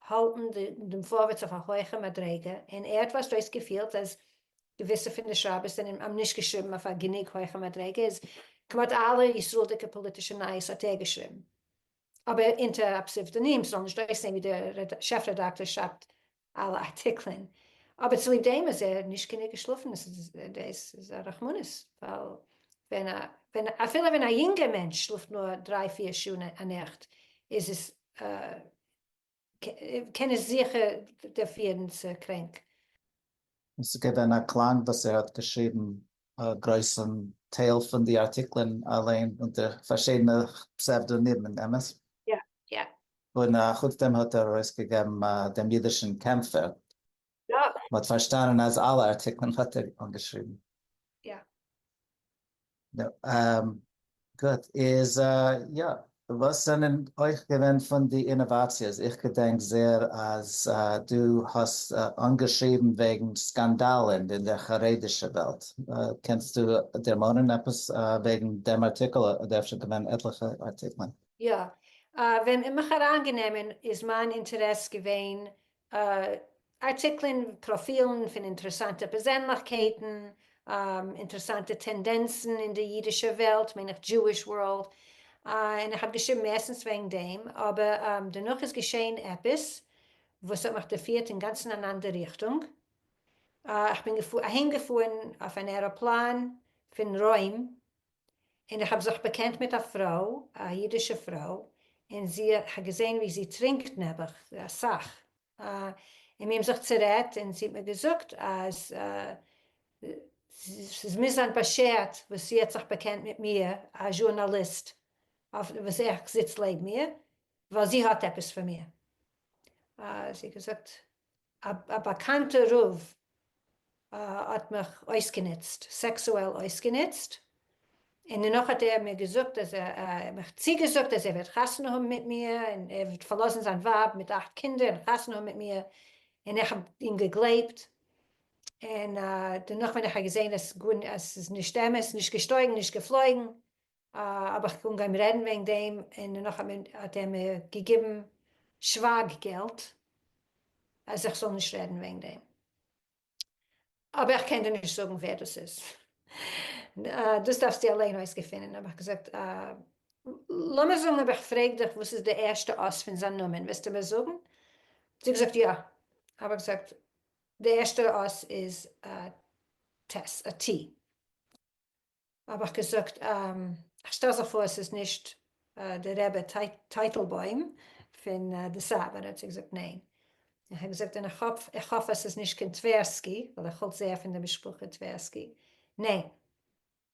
האלטן דעם פארווערטס אויף א הויכע מדריגה, און ער האט פארשט אויס געפילט אז געוויסע פון די שרייבערס זענען עם נישט געשריבן אויף א גענוג הויכע מדריגה איז כמעט אלע ישראל'דיגע פאליטישע נייעס האט ער געשריבן אבער אונטער א פסיוודאנים ס'זאל נישט אויסזעהן ווי דער שעף רעדאקטאר שרייבט אלע ארטיקלען אבער צוליב דעם אז ער האט נישט גענוג געשלאפן דאס איז א רחמנות ווייל ווען א ווען אפילו ווען א יונגער מענטש שלאפט נאר דריי פיר שעה א נאכט איז עס קען נישט זיכער דעפירן צו קרענק. עס איז געווען א קלאנג וואס ער האט געשריבן א גרויסן טייל פון די ארטיקלען אליין אונטער פארשידענע פסעוודאנימען, אמת? יא, יא. און חוץ דעם האט ער ארויסגעגעבן דעם אידישן קעמפער. יא. מ'האט פארשטאנען אז אלע ארטיקלען האט ער אנגעשריבן? יא. נו, אהמ, גוט, איז יא, וואס זענען אויך געווען פון די אינאוואציעס? איך געדענק זעהר אז דו האסט אנגעשריבן וועגן סקאנדאלן אין דער חרדישע וועלט, קענסטו דערמאנען עפעס וועגן דעם ארטיקל? אדער אפשר געווען עטליכע ארטיקלען? יא. ווען איך האב אריינגענומען איז מיין אינטערעס געווען ארטיקלען, פראפילן פון אינטערעסאנטע פערזענליכקייטן, אינטערעסאנטע טענדענצן אין די אידישע וועלט, מיין איך דזשואיש ווארלד, און איך האב געשריבן מערסטנס וועגן דעם, אבער דערנאך איז געשען עפעס וואס האט מיך דערפירט אינגאנצן אין אן אנדער ריכטונג, איך בין אהיימגעפארן אויף אן עראפלאן פון רוים און איך האב זיך באקענט מיט א פרוי, א אידישע פרוי, און זי האט געזען ווי זי טרינקט נעבעך אסאך, און מיר האבן זיך צערעדט און זי האט מיר געזאגט אז ס'איז מוז זיין באשערט וואס זי האט זיך באקענט מיט מיר א זשורנאליסט וואס איך זיץ לעבן איר, ווייל זי האט עפעס פון מיר, זי האט געזאגט א באקאנטע רב האט מיך אויסגענוצט, סעקסועל אויסגענוצט, און דערנאך האט ער מיר געזאגט אז מיך צוגעזאגט אז ער וועט חתונה האבן מיט מיר, און ער וועט פארלאזן זיין ווייב מיט אכט קינדער און חתונה האבן מיט מיר, און איך האב אים געגלייבט, און דערנאך ווען איך האב געזען אז ס'איז נישט אמת, נישט געשטויגן נישט געפלויגן, האב איך אנגעהויבן רעדן וועגן דעם און נאך האט ער מיר געגעבן שווייג געלט אז איך זאל נישט רעדן וועגן דעם. אבער איך קען דיר נישט זאגן ווער דאס איז. דאס דארפסטו אליין אויסגעפינען. האב איך געזאגט, לאמיר זאגן אויב איך פרעג דיך וואס איז די ערשטע אות פון זיין נאמען וועסטו מיר זאגן? האט זי געזאגט יא. האב איך געזאגט, די ערשטע אות איז א ט. האב איך געזאגט איך שטעל זיך פאר עס איז נישט די רבי טייטלבוים פון דעסאוו האט ער צו געזאגט ניין איך האב געזאגט און איך האף עס איז נישט קין טווערסקי ווייל איך האלט זייער פון די משפחה טווערסקי ניין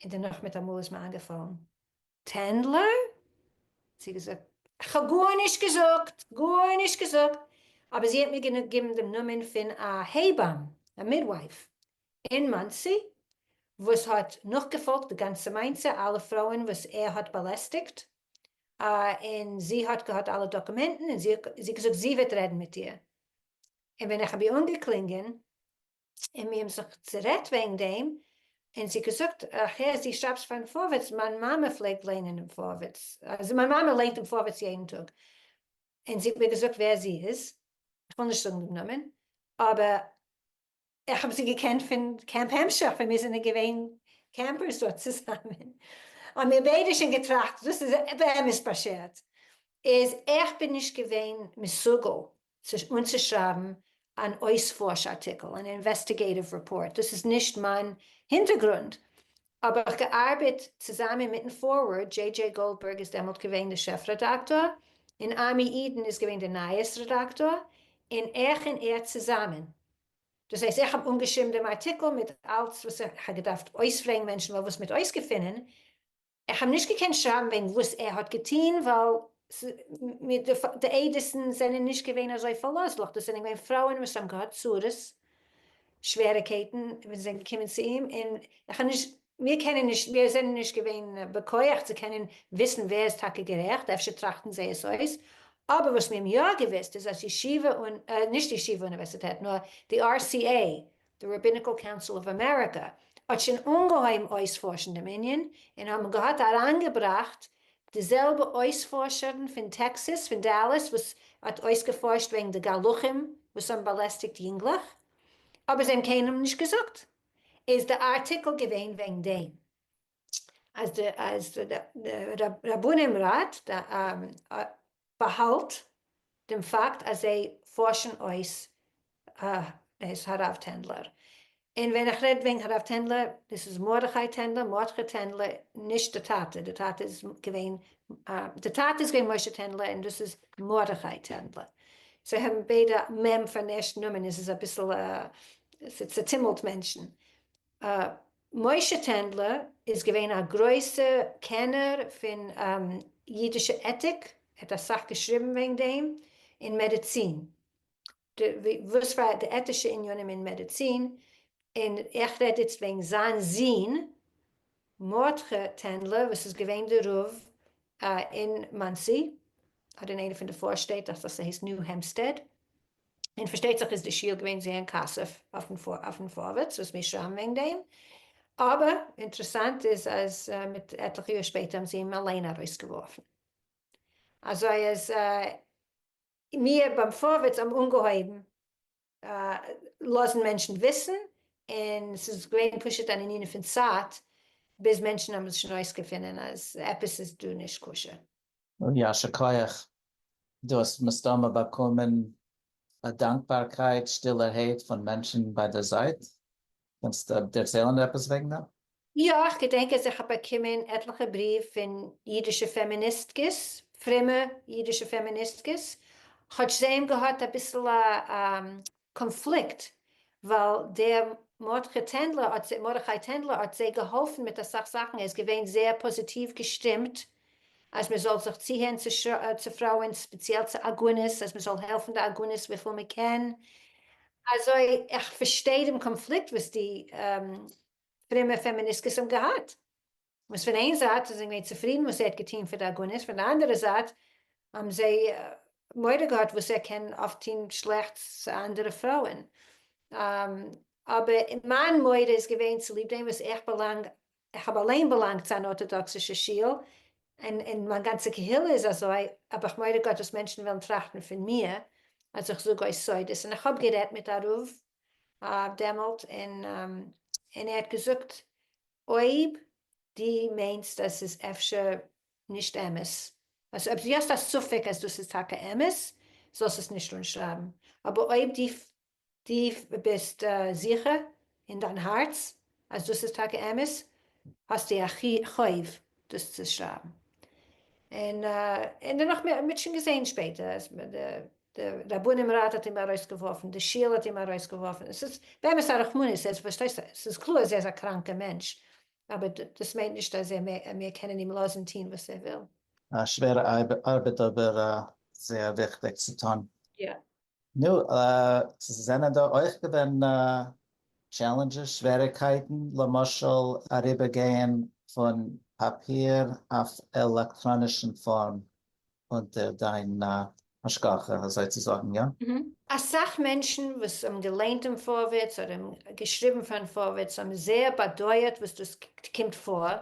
און דערנאך מיט א מאל איז מיר איינגעפאלן טענדלער צו געזאגט איך האב גארנישט געזאגט גארנישט געזאגט אבער זי האט מיר געגעבן דעם נאמען פון א הייבאם א מידווייף אין מאנסי, וואס האט נאכגעפאלגט די גאנצע מעשה, אלע פרויען וואס ער האט באלעסטיגט, און זי האט געהאט אלע דאקומענטן, און זי האט געזאגט זי וועט רעדן מיט איר, און ווען איך האב איר אנגעקלינגען, און מיר האבן זיך צערעדט וועגן דעם, און זי האט געזאגט, איך הער זי שרייבט פארן פארווערטס, מיין מאמע פלעגט ליינען דעם פארווערטס, אזוי מיין מאמע ליינט דעם פארווערטס יעדן טאג, און זי האט מיר געזאגט ווער זי איז, איך וויל נישט זאגן דעם נאמען, אבער איך האב זיי געקענט פון קעמפ המשך ווען מיר זענען געווען קעמפערס דארט צוזאמען. האמיר ביידע שוין געטראכט דאס איז באמת באשערט. איז איך בין נישט געווען מסוגל אנצושרייבן אן אויספארש ארטיקל, אן אינוועסטיגעיטיוו רעפארט, דאס איז נישט מיין הינטערגרונד. האב איך געארבעט צוזאמען מיטן פארווערד, דזשעי דזשעי גאלדבערג איז דעמאלט געווען דער שעף רעדאקטאר, און עמי אידן איז געווען דער נייעס רעדאקטאר, און איך און ער צוזאמען. דאס הייסט איך האב אנגעשריבן דעם ארטיקל מיט אלץ וואס איך האב געדארפט אויספרעגן מענטשן ווייל וואס מיט אויסגעפינען, איך האב נישט געקענט שרייבן וועגן וואס ער האט געטון ווייל די עדות'ן זענען נישט געווען אזוי פארלאזליך, דאס זענען געווען פרויען וואס האבן געהאט צרות שוועריקייטן וואס זענען געקומען צו אים, און איך האב נישט, מיר קענען נישט, מיר זענען נישט געווען בכח צו קענען וויסן ווער איז טאקע גערעכט, אפשר טראכטן זיי עס אויס, אבער וואס מיר האבן יא געוואוסט איז אז ישיבה און, נישט ישיבה אוניווערסיטעט, נאר די RCA, די Rabbinical Council of America, האט שוין אנגעהויבן אויספארשן דעם ענין, און האבן געהאט אריינגעבראכט די זעלבע אויספארשערן פון טעקסעס פון דאלאס וואס האט אויסגעפארשט וועגן די גלחים וואס האבן באלעסטיגט יונגלעך אבער זיי האבן קיינעם נישט געזאגט איז די ארטיקל געווען וועגן דעם אז די רבנים ראט באהאלט דעם פאקט אז זיי פארשן אויס הרב טענדלער. און ווען איך רעד וועגן הרב טענדלער, דאס איז מרדכי טענדלער, מרדכי טענדלער, נישט די טאטע, די טאטע איז געווען, די טאטע איז געווען משה טענדלער און דאס איז מרדכי טענדלער. זיי האבן ביידע מ' פארן ערשטן נאמען, עס איז אביסל, ס'צעטומלט מענטשן. משה טענדלער איז געווען א גרויסע קענער פון אידישע עטיק, ער האט אסאך געשריבן וועגן דעם, און מעדיצין, וואס פאר די עטישע עניינים אין מעדיצין, און איך רעד איצט וועגן זיין זון מרדכי טענדלער וואס איז געווען די רב אין מאנסי, אדער אין איינע פון די פארשטעט, איך דאכט אז ס'הייסט ניו העמפסטעד, און פארשטייט זיך איז די שיעור געווען זעהר אין כסף אויפן פארווערטס וואס מיר שרייבן וועגן דעם, אבער אינטערעסאנט איז אז מיט עטליכע יאר שפעטער האבן זיי אים אליין ארויסגעווארפן, אזוי אז מיר ביים פארווערטס האבן אנגעהויבן לאזן מענטשן וויסן, און ס'איז געווען פשוט אן ענין פון צייט ביז מענטשן האבן עס שוין אויסגעפינען אז עפעס איז דא נישט כשר. יישר כח, דו האסט מסתמא באקומען א דאנקבארקייט שטילערהייט פון מענטשן ביי די זייט, קענסט דערציילן עפעס וועגן דעם? יא, איך געדענק אז איך האב באקומען עטליכע בריוו פון אידישע פעמיניסטקעס, פרומע אידישע פעמיניסטקעס, כאטש זיי האבן געהאט אביסל א קאנפליקט ווייל דער מרדכי טענדלער האט זיי געהאלפן מיט אסאך זאכן ער איז געווען זייער פאזיטיוו געשטימט אז מען זאל זיך צוהערן צו פרויען ספעציעל צו עגונות אז מען זאל העלפן די עגונות וויפיל מען קען אזוי איך פארשטיי דעם קאנפליקט וואס די פרומע פעמיניסקעס האבן געהאט. וואס פון איין זייט איז ער געווען צופרידן וואס ער האט געטון פאר די עגונות, פון די אנדערע זייט האבן זיי מורא געהאט וואס ער קען אויף טון שלעכטס צו אנדערע פרויען, אבער מיין מורא איז געווען צוליב דעם וואס איך באלאנג, איך האב אליין באלאנגט צו אן ארטאדאקסישע שול, און און מיין גאנצע קהילה איז אזוי, האב איך מורא געהאט וואס מענטשן וועלן טראכטן פון מיר אז איך זאג אויס סודות, און איך האב גערעדט מיט א רב דעמאלט און ער האט געזאגט אויב דו מיינסט אז ס'איז אפשר נישט אמת אז אויב דו האסט א ספק אז דאס איז טאקע אמת זאלסט עס נישט אנשרייבן אבער אויב דו ביסט זיכער אין דיין הארץ אז דאס איז טאקע אמת האסטו א חוב דאס צו שרייבן. און און דערנאך מיר האט שוין געזעהן שפעטער אז די רבנים ראט האט אים ארויסגעווארפן, די שול האט אים ארויסגעווארפן, עס איז באמת א רחמנות, ער איז פארשטייסט עס איז קלאר אז ער איז א קראנקע מענטש, אבער דאס מיינט נישט אז ער מעג מיר קענען אים לאזן טוהן וואס ער וויל. א שווערע ארבעט אבער זייער וויכטיג צו טון. יא, נו, ס'זענען דא אויך געווען טשעלענדזשעס, שוועריגקייטן, למשל אריבערגייען פון פאפיר אויף עלעקטראנישן פארם אונטער דיין השגחה אזוי צו זאגן, יא? אסאך מענטשן וואס האבן געליינט דעם פארווערטס אדער געשריבן פארן פארווערטס האבן זייער באדויערט וואס דאס קומט פאר,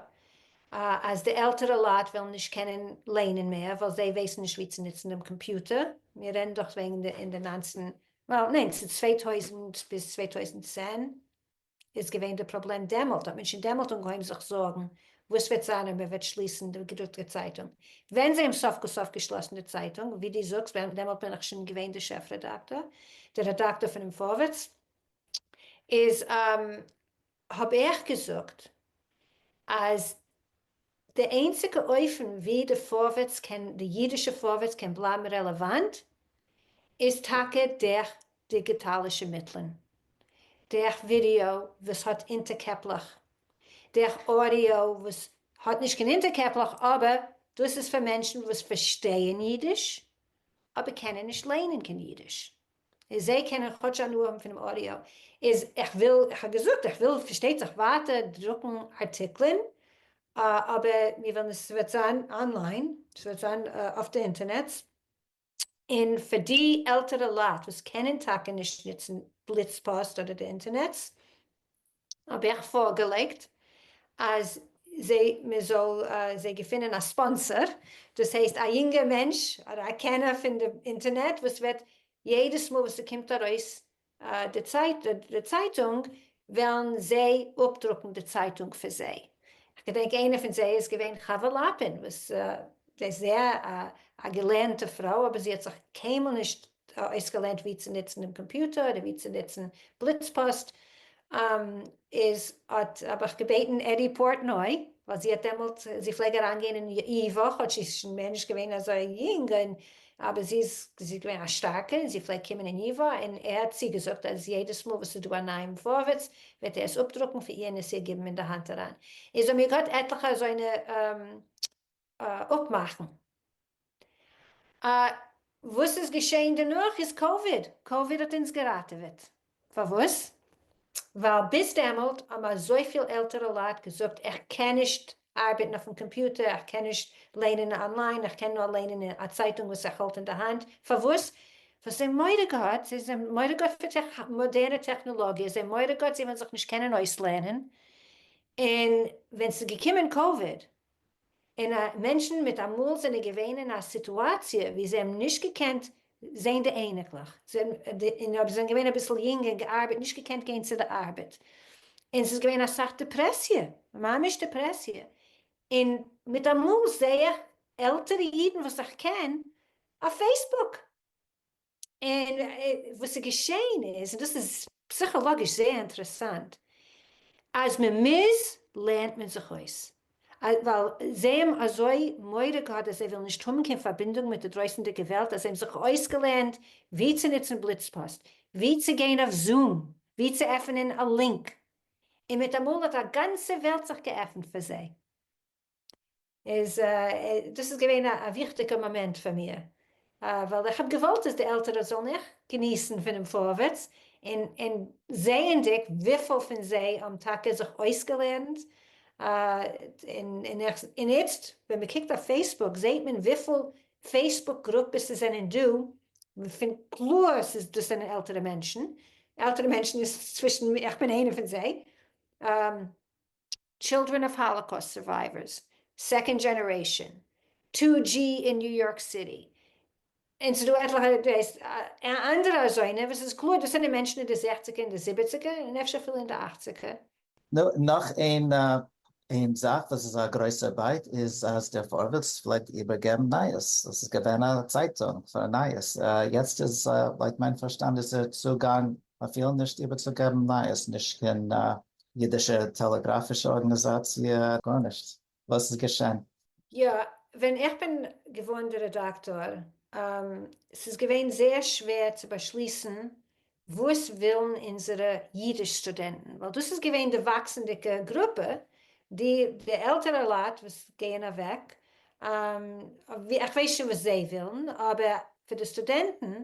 אז די עלטערע לייט וועלן נישט קענען לערנען מער ווייל זיי ווייסן נישט ווי צו נוצן דעם קאמפיוטער, מיר רעדן דאך וועגן די אין די נײַנצן, ניין אין צוויי טויזנט ביז צוויי טויזנט צען איז געווען די פראבלעם, דעמאלט האט מען שוין דעמאלט אנגעהויבן זיך זארגן וואס וועט זיין אויב מען וועט שליסן די געדרוקטע צייטונג, ווען זיי האבן סוף כל סוף געשלאסן די צייטונג, ווי דו זאגסט ווען דעמאלט בין איך שוין געווען די שעף רעדאקטאר, די רעדאקטאר פונעם פארווערטס, איז האב איך געזאגט אז די איינציגע אופן ווי די פארווערטס קען, די אידישע פארווערטס קען בלייבן רעלעוואנט איז טאקע דורך דיגיטאלישע מיטלען, דורך ווידעאו וואס האט אונטערקעפלעך, דורך אודיאו וואס האט נישט קיין אונטערקעפלעך אבער דאס איז פאר מענטשן וואס פארשטייען אידיש אבער קענען נישט ליינען קיין אידיש. און זיי קענען כאטש הנאה האבן פונעם אודיאו, איז איך וויל, איך האב געזאגט איך וויל פארשטייט זיך ווייטער דרוקן ארטיקלען, אבער מיר ווילן עס וועט זיין אנליין, עס וועט זיין אויף די אינטערנעץ, און פאר די עלטערע לייט וואס קענען טאקע נישט נוצן בליץ פאסט אדער די אינטערנעץ, האב איך פארגעלייגט אז זיי מען זאל זיי געפינען א ספאנסער דאס הייסט א יונגער מענטש אדער א קענער פון די אינטערנעט וואס וועט יעדעס מאל וואס ס'קומט ארויס די צייטונג וועלן זיי אפדרוקן די צייטונג פאר זיי, כ'געדענק איינע פון זיי איז געווען חוה לאפין וואס זי איז זייער א געלערנטע פרוי אבער זי האט זיך קיינמאל נישט אויסגעלערנט ווי צו נוצן דעם קאמפיוטער אדער ווי צו נוצן בליץ פאסט, איז האט האב איך געבעטן עדי פארטנוי ווייל זי האט דעמאלט זי פלעג אריין גיין אין אי וואך האט זי איז שוין מער נישט געווען אזוי יונג און אבער זי איז זי איז געווען א שטארקע און זי פלעג קומען אין אי וואך און ער האט צוגעזאגט אז יעדעס מאל וואס איז דא א נייעם פארווערטס וועט ער עס אפדרוקן פאר איר און עס איר גיבן אין די האנט אריין איז האבן מיר געהאט עטליכע אזוינע אפמאכן. וואס איז געשעהן דערנאך איז קאוויד, קאוויד האט אונז געראטעוועט, פארוואס? ווייל ביז דעמאלט האבן אזויפיל עלטערע לייט געזאגט איך קען נישט ארבעטן אויפן קאמפיוטער, איך קען נישט לערנען אנליין, איך קען נאר לערנען א צייטונג וואס איך האלט אין די האנט, פארוואס? ווייל זיי האבן מורא געהאט, זיי זענען מורא געהאט פון מאדערנע טעכנעלאגיע, זיי האבן מורא געהאט זיי וועלן זיך נישט קענען אויסלערנען, און ווען ס'איז געקומען קאוויד און א מענטשן מיט אמאל זענען געווען אין א סיטואציע ווי זיי האבן נישט געקענט זעהן די אייניקלעך און אויב זיי זענען געווען אביסל יונג און געארבעט נישט געקענט גיין צו די ארבעט און ס'איז געווען אסאך דעפרעסיע ממש דעפרעסיע און מיט אמאל זעה איך עלטערע אידן וואס איך קען אויף פעיסבוק און וואס איז געשעהן איז, און דאס איז פסיכאלאגיש זייער אינטערעסאנט, אז מען מוז לערנט מען זיך אויס, ווייל זיי האבן אזוי מורא געהאט אז זיי וועלן נישט האבן קיין פארבינדונג מיט די דרויסענדיגע וועלט, אז זיי האבן זיך אויסגעלערנט ווי צו נוצן בליצפאסט, ווי צו גיין אויף זום, ווי צו עפענען א לינק, און מיט אמאל האט א גאנצע וועלט זיך געעפנט פאר זיי. איז דאס איז געווען א וויכטיגע מאמענט פאר מיר, ווייל איך האב געוואלט אז די עלטערע זאלן אויך געניסן פונעם פארווערטס, און און זעענדיג וויפיל פון זיי האבן טאקע זיך אויסגעלערנט, און און איך און איצט ווען מען קוקט אויף פעיסבוק זעהט מען וויפיל פעיסבוק גרופעס עס זענען דא, מ'פינט קלאר ס'איז דאס זענען עלטערע מענטשן, עלטערע מענטשן איז צווישן, איך בין איינע פון זיי, טשילדרען אוו האלאקאוסט סורווייווערס, סעקאנד דזשענערעישאן, טו דזשי אין ניו יארק סיטי, און ס'דא עטליכע דו ווייסט אנדערע אזוינע וואס איז קלאר דאס זענען מענטשן אין די זעכציגער און די זיבעציגער און אפשר אפילו אין די אכציגער. נו, נאך איין איין זאך וואס איז א גרויסע ארבייט איז אז דער פארווערטס פלעגט איבערגעבן נייעס, עס איז געווען א צייטונג פאר נייעס, יעצט איז לויט מיין פארשטאנד איז דער צוגאנג מ'וויל נישט איבערצוגעבן נייעס, נישט קיין אידישע טעלעגראפישע ארגאניזאציע, גארנישט. וואס איז געשען? יא, ווען איך בין געווארן די רעדאקטאר, ס'איז געווען זייער שווער צו באשליסן וואס ווילן אונזערע אידיש סטודענטן, ווייל דאס איז געווען די וואקסנדיגע גרופע, די עלטערע לייט וואס גייען אוועק, איך ווייס שוין וואס זיי ווילן, אבער פאר די סטודענטן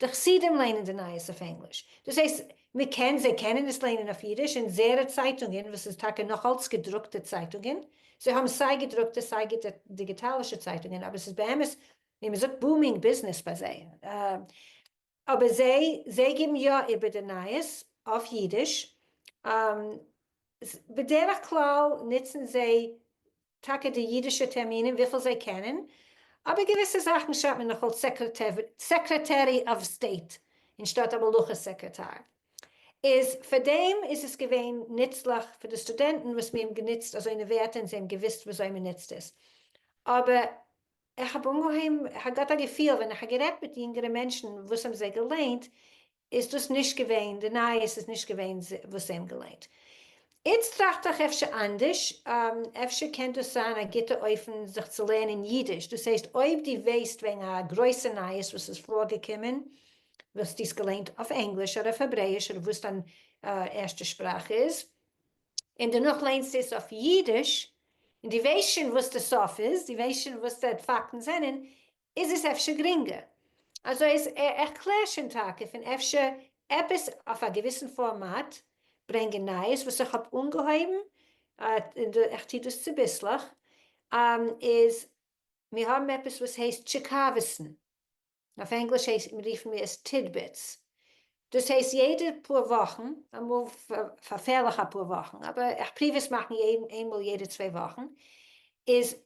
די חסידים ליינען די נייעס אויף ענגליש, דאס הייסט מ'קען, זיי קענען עס ליינען אויף אידיש, און זערא צייטונגען וואס איז טאקע נאך אלץ געדרוקטע צייטונגען, זיי האבן סיי געדרוקטע סיי דיגיטאלישע צייטונגען, אבער ס'איז באמת ווי מ'זאגט בומינג ביזנעס ביי זיי, אבער זיי זיי גיבן יא איבער די נייעס אויף אידיש, ס, בדרך כלל נוצן זיי טאקע די אידישע טערמינען וויפיל זיי קענען, אבער געוויסע זאכן שרייבט מען נאכאלץ סעקרעטערי אוו סטעיט אנשטאט א מלוכה סעקרעטאר. איז פאר דעם איז עס געווען נוצליך פאר די סטודענטן וואס מיר האבן גענוצט אזוינע ווערטער און זיי האבן געוויסט וויאזוי מען נוצט עס. אבער איך האב אנגעהויבן, איך האב געהאט א געפיל ווען איך האב גערעדט מיט יונגערע מענטשן וואס האבן זיי געליינט, איז דאס נישט געווען, די נייעס איז נישט געווען וואס זיי האבן געליינט. איצט טראכט איך אפשר אנדערש, אפשר קען דאס זיין א גוטע אופן זיך צו לערנען אידיש, דאס הייסט אויב די וועסט וועגן א גרויסע נייעס וואס איז פארגעקומען, וואלסטו עס געליינט אויף ענגליש אדער אויף העברעיש אדער וואס דיין ערשטע שפראך איז, און דערנאך ליינסטו עס אויף אידיש, און די וועסט שוין וואס די סוף איז, די וועסט שוין וואס די פאקטן זענען, איז עס אפשר גרינגער. אזוי אז איך קלער שוין טאקע פון אפשר עפעס אויף א געוויסן פארמאט ברענגען נייעס וואס איך האב אנגעהויבן און איך טו דאס צוביסלעך איז מיר האבן עפעס וואס הייסט טשיקאווסן אויף ענגליש רופן מיר עס טידביטס דאס הייסט יעדע פאר וואכן, אמאל פארפעלך אפאר וואכן, אבער איך פריוו עס מאכן איינמאל יעדע צוויי וואכן, איז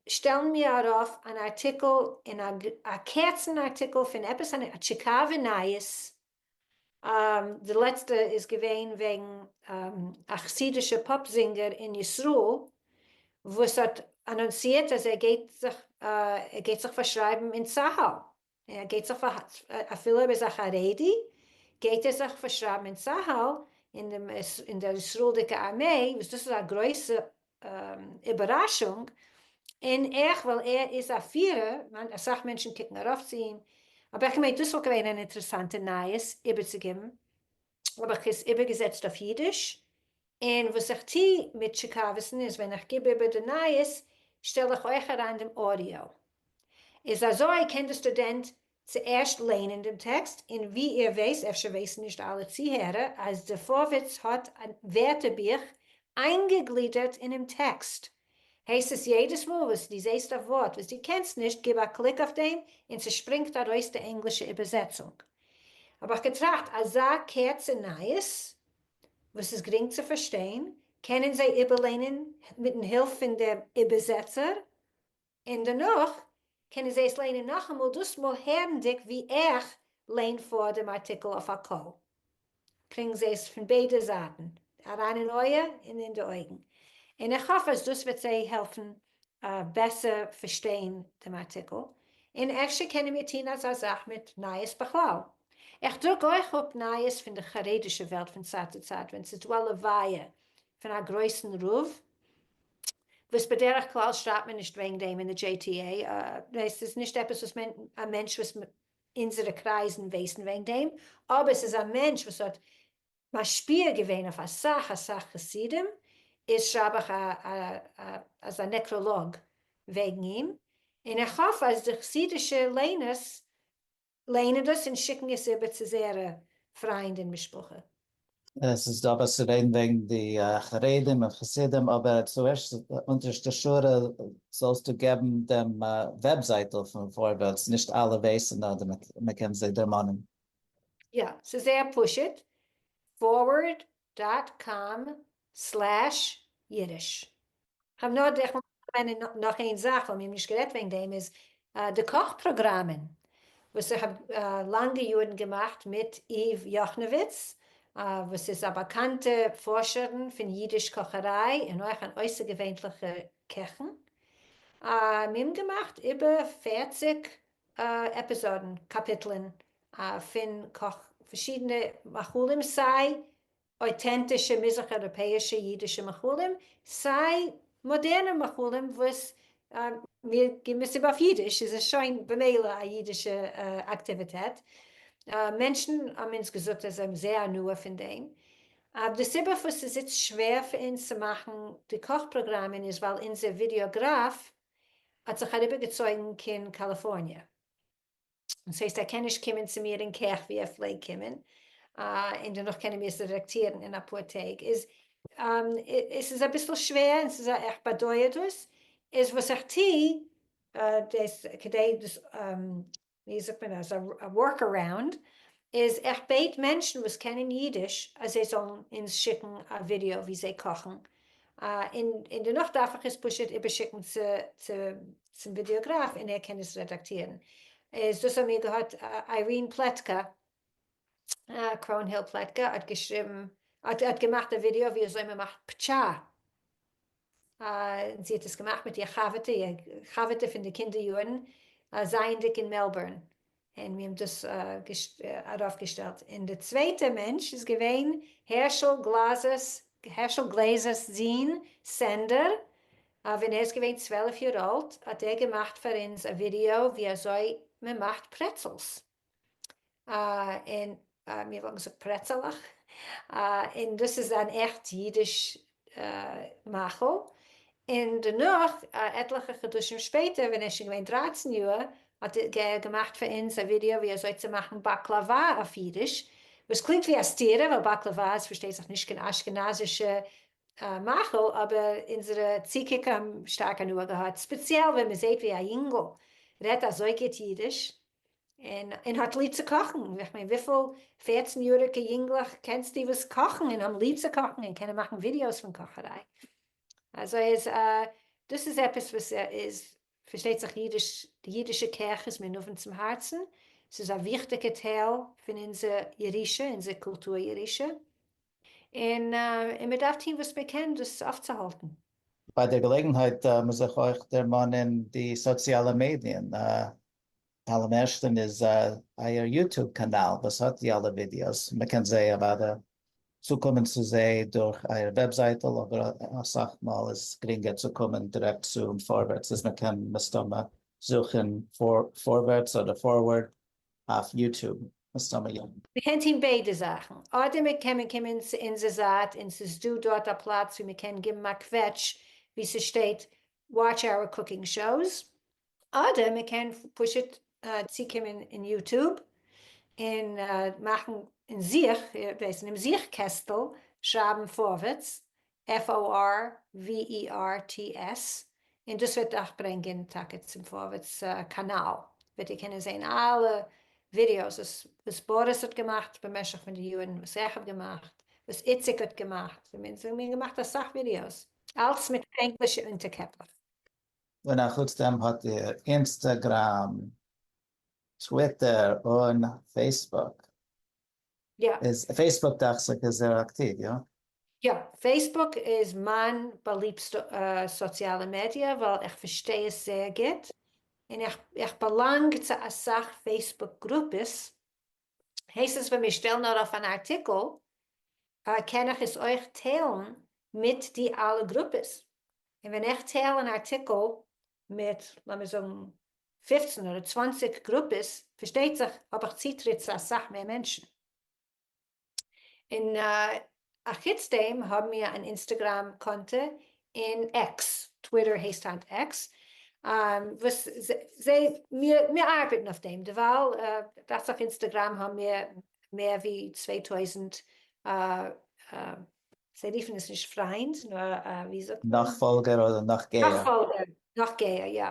שטעלן מיר ארויף אן ארטיקל אין א א קערצן ארטיקל פון עפעס א טשיקאווע נייעס, די לעצטע איז געווען וועגן א חסידישע פאפ זינגער אין ישראל וואס האט אנאנסירט אז ער גייט זיך ער גייט זיך פארשרייבן אין צהל, ער גייט זיך אפילו ער איז א חרדי גייט ער זיך פארשרייבן אין צהל אין דער ישראל'דיגע ארמעי וואס דאס איז א גרויסע איבעראשונג און עכ פ ווייל ער איז א פירער אסאך מענטשן קוקן ארויף צו אים אבער כ'מיין דאס וואלט געווען אן אינטערעסאנטע נייעס איבערצוגעבן האב איך עס איבערגעזעצט אויף אידיש, און וואס איך טו מיט שיקאוועסן איז ווען איך גיב איבער די נייעס שטעל איך אויך אריין דעם אודיאו. איז אזוי קען די סטודענט צוערשט ליינען דעם טעקסט, און ווי איר ווייסט, אפשר ווייסן נישט אלע צוהערער, אז די פארווערטס האט ווערטער בוך איינגעגלידערט אינעם טעקסט, הייסט עס יעדעס מאל וואס די זעהסט א ווארט וואס די קענסט נישט גיב א קליק אויף דעם און ס'שפרינגט ארויס די ענגלישע איבערזעצונג. האב איך געטראכט אזא קערצע נייעס וואס איז גרינג צו פארשטיין קענען זיי איבערליינען מיטן הילף פון דעם איבערזעצער און דערנאך קענען זיי עס ליינען נאכאמאל, דאס מאל הערנדיג ווי איך ליין פאר דעם ארטיקל אויף א קול, קריגן זיי עס פון ביידע זייטן, אריין אין אויער און אין די אויגן, און איך האף אז דאס וועט זיי העלפן בעסער פארשטיין דעם ארטיקל, און אפשר קענען מיר טון אזא זאך מיט נייעס בכלל. איך דרוק אויך אפ נייעס פון די חרדישע וועלט פון צייט צו צייט ווען ס'איז דא א לוויה פון א גרויסן רב, וואס בדרך כלל שרייבט מען נישט וועגן דעם אין די דזשעי טי עי, עס איז נישט עפעס וואס מען, א מענטש וואס אונזערע קרייזן ווייסן וועגן דעם, אבער ס'איז א מענטש וואס האט משפיע געווען אויף אסאך אסאך חסידים, איז שרייב איך אזא נעקראלאג וועגן אים, און איך האף אז די חסידישע ליינערס ליינען דאס און שיקן עס איבער צו זייערע פריינד און משפחה. עס איז דא וואס צו רעדן וועגן די חרדים און חסידים, אבער צוערשט אונטערשטע שורה זאלסטו געבן דעם וועבזייטל פון פארווערטס, נישט אלע ווייסן אדער מען קען זיי דערמאנען. יא, ס'איז זייער פשוט, פארווערד דאט קאם סלעש אידיש. כ'האב נאר די, כ'וואלט נאר געמיינט נאך איין זאך וואלט מיר נישט גערעדט וועגן דעם איז די קאך פראגראמען וואס איך האב לאנגע יארן געמאכט מיט איוו יאכנאוויץ וואס איז א באקאנטע פארשערן פון אידיש קאכעריי און אויך אן אויסערגעווענליכע קעכן, מיר האבן געמאכט איבער פֿערציק עפיזאדן, קאפיטלען, פון קאך פארשידענע מאכלים, סיי אויטענטישע מזרח אייראפעאישע אידישע מאכלים, סיי מאדערנע מאכלים וואס מיר גיבן עס איבער אויף אידיש, איז עס שוין במילא א אידישע אקטיוויטעט, מענטשן האבן אונז געזאגט אז זיי האבן זייער הנאה פון דעם, אבער די סיבה פארוואס ס'איז איצט שווער פאר אונז צו מאכן די קאך פראגראמען איז ווייל אונזער ווידיאגראף האט זיך אריבערגעצויגן קיין קאליפארניע, און ס'הייסט ער קען נישט קומען צו מיר אין קעך ווי ער פלעגט קומען, און דערנאך קענען מיר עס רעדאקטירן אין אפאר טעג, איז עס איז אביסל שווער, און ס'איז א איך באדויער דאס, איז וואס איך טו, דאס כדי דאס ווי זאגט מען אז א ווארק אראונד איז איך בעט מענטשן וואס קענען אידיש אז זיי זאלן אונז שיקן א ווידיאו ווי זיי קאכן, און דערנאך דארף איך עס פשוט איבערשיקן צום ווידיאגראף און ער קען עס רעדאקטירן, איז דאס האמיר געהאט איירין פלעטקא, קראונהיל פלעטקא האט געשריבן, האט געמאכט א ווידיאו ווי אזוי מען מאכט פטשא. זי האט עס געמאכט מיט איר חבר'טע, איר חבר'טע פון די קינדער יארן, זייענדיג אין מעלבורן, און מיר האבן דאס ארויף געשטעלט, און די צווייטע מענטש איז געווען הערשל גלאזער'ס, הערשל גלעזער'ס זון סענדער, ווען ער איז געווען צוועלף יאר אלט האט ער געמאכט פאר אונז א ווידיאו ווי אזוי מען מאכט פרעצעלס. און מיר האבן געזאגט פרעצעלעך, און דאס איז אן עכט אידיש מאכל, און דערנאך עטליכע חדשים שפעטער ווען ער איז שוין געווען דרייצן יאר האט ער געמאכט פאר אונז א ווידיאו ווי אזוי צו מאכן באקלאווא אויף אידיש, וואס קלינגט ווי א סתירה ווייל באקלאווא איז פארשטייט זיך נישט קיין אשכנזישע מאכל, אבער אונזערע צוקוקער האבן שטארק הנאה געהאט, ספעציעל ווען מען זעט ווי א יונגל רעדט אזוי גוט אידיש. און האט ליב צו קאכן, איך מיין וויפיל פערצן יאריגע יונגלעך קענסטו וואס קאכן און האבן ליב צו קאכן און קענען מאכן ווידיאוס פון קאכעריי, אזוי אז דאס איז עפעס וואס איז פארשטייט זיך אידיש, די אידישע קעך איז מיר נאבן צום הארצן, ס'איז א וויכטיגע טייל פון אונזער ירושה, אונזער קולטור ירושה, און מען דארף טון וואס מען קען דאס אויפצוהאלטן. ביי דער געלעגנהייט מוז איך אויך דערמאנען די סאציאלע מעדיען, אלעם ערשטען איז אייער יוטוב קאנאל וואס האט די אלע ווידיאוס, מען קען זיי אוודאי צוקומען צו זיי דורך אייער וועבזייטל, אבער אסאך מאל איז גרינגער צו קומען דירעקט צו פארווערטס, איז מען קען מסתמא זוכען פארווערטס אדער פארווארד אויף יוטוב, מסתמא יא. מען קען טוהן ביידע זאכן, אדער מען קען מען קומען צו אונזער זייט און ס'איז דא דארט א פלאץ ווי מען קען גיבן א קוועטש ווי ס'שטייט וואטש אווער קוקינג שאוס, אדער מען קען פשוט צוקומען אין יוטוב און מאכן אין זוך, ווייסן, און זוך קעסטל שרייבן פארווערטס, F-o-r-v-e-r-t-s, און דאס וועט אייך ברענגען טאקע צום פארווערטס קאנאל, וועט איר קענען זען אלע ווידיאוס וואס בוריס האט געמאכט במשך פון די יארן, וואס איך האב געמאכט, וואס איציק האט געמאכט, מיר האבן געמאכט אסאך ווידיאוס. אלץ מיט ענגלישע אונטערקעפלעך. און אחוץ דעם האט איר אינסטעגראם, טוויטער און פעיסבוק. יא. איז פעיסבוק דאכציך איז זייער אקטיוו, יא? יא, פעיסבוק איז מיין באליבסטע סאציאלע מידיע ווייל איך פארשטיי עס זייער גוט, און איך באלאנג צו אסאך פעיסבוק גרופעס הייסט עס ווען מיר שטעלן ארויף אן ארטיקל קען איך עס אויך טיילן מיט די אלע גרופעס, און ווען איך טייל אן ארטיקל מיט לאמיר זאגן פֿופֿצן אדער צוואַנציק גרופעס פארשטייט זיך האב איך צוטריט צו אסאך מער מענטשן, און א חוץ דעם האבן מיר אן אינסטעגראם קאנטע אין עקס, טוויטער הייסט היינט עקס, וואס זיי מיר ארבעטן אויף דעם דערווייל, דאכט זיך אינסטעגראם האבן מיר מער ווי צוויי טויזנט, זיי רופן עס נישט פריינדס נאר ווי זאגט מען? נאכפאלגער אדער נאכגייער? נאכפאלגער, נאכגייער יא,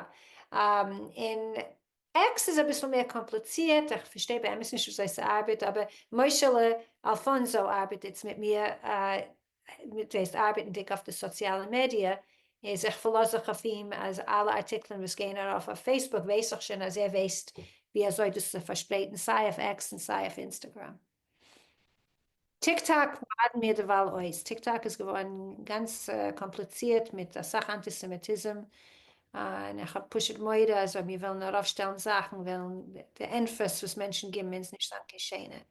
און עקס איז אביסל מער קאמפליצירט, איך פארשטיי באמת נישט וויאזוי ס'ארבעט, אבער משה'לע אלפאנזא ארבעט איצט מיט מיר, דאס הייסט ארבעטנדיג אויף די סאציאלע מידיע, איז איך פארלאז זיך אויף אים אז אלע ארטיקלען וואס גייען ארויף אויף פעיסבוק ווייס איך שוין אז ער ווייסט ווי אזוי דאס צו פארשפרייטן סיי אויף עקס און סיי אויף אינסטעגראם. טיק טאק ליידן מיר דערווייל אויס, טיק טאק איז געווארן גאנץ קאמפליצירט מיט אסאך אנטיסעמיטיזם, און איך האב פשוט מורא אז אויב מיר וועלן ארויפשטעלן זאכן וועלן די ענטפערס וואס מענטשן גיבן אונז נישט זיין קיין שענע,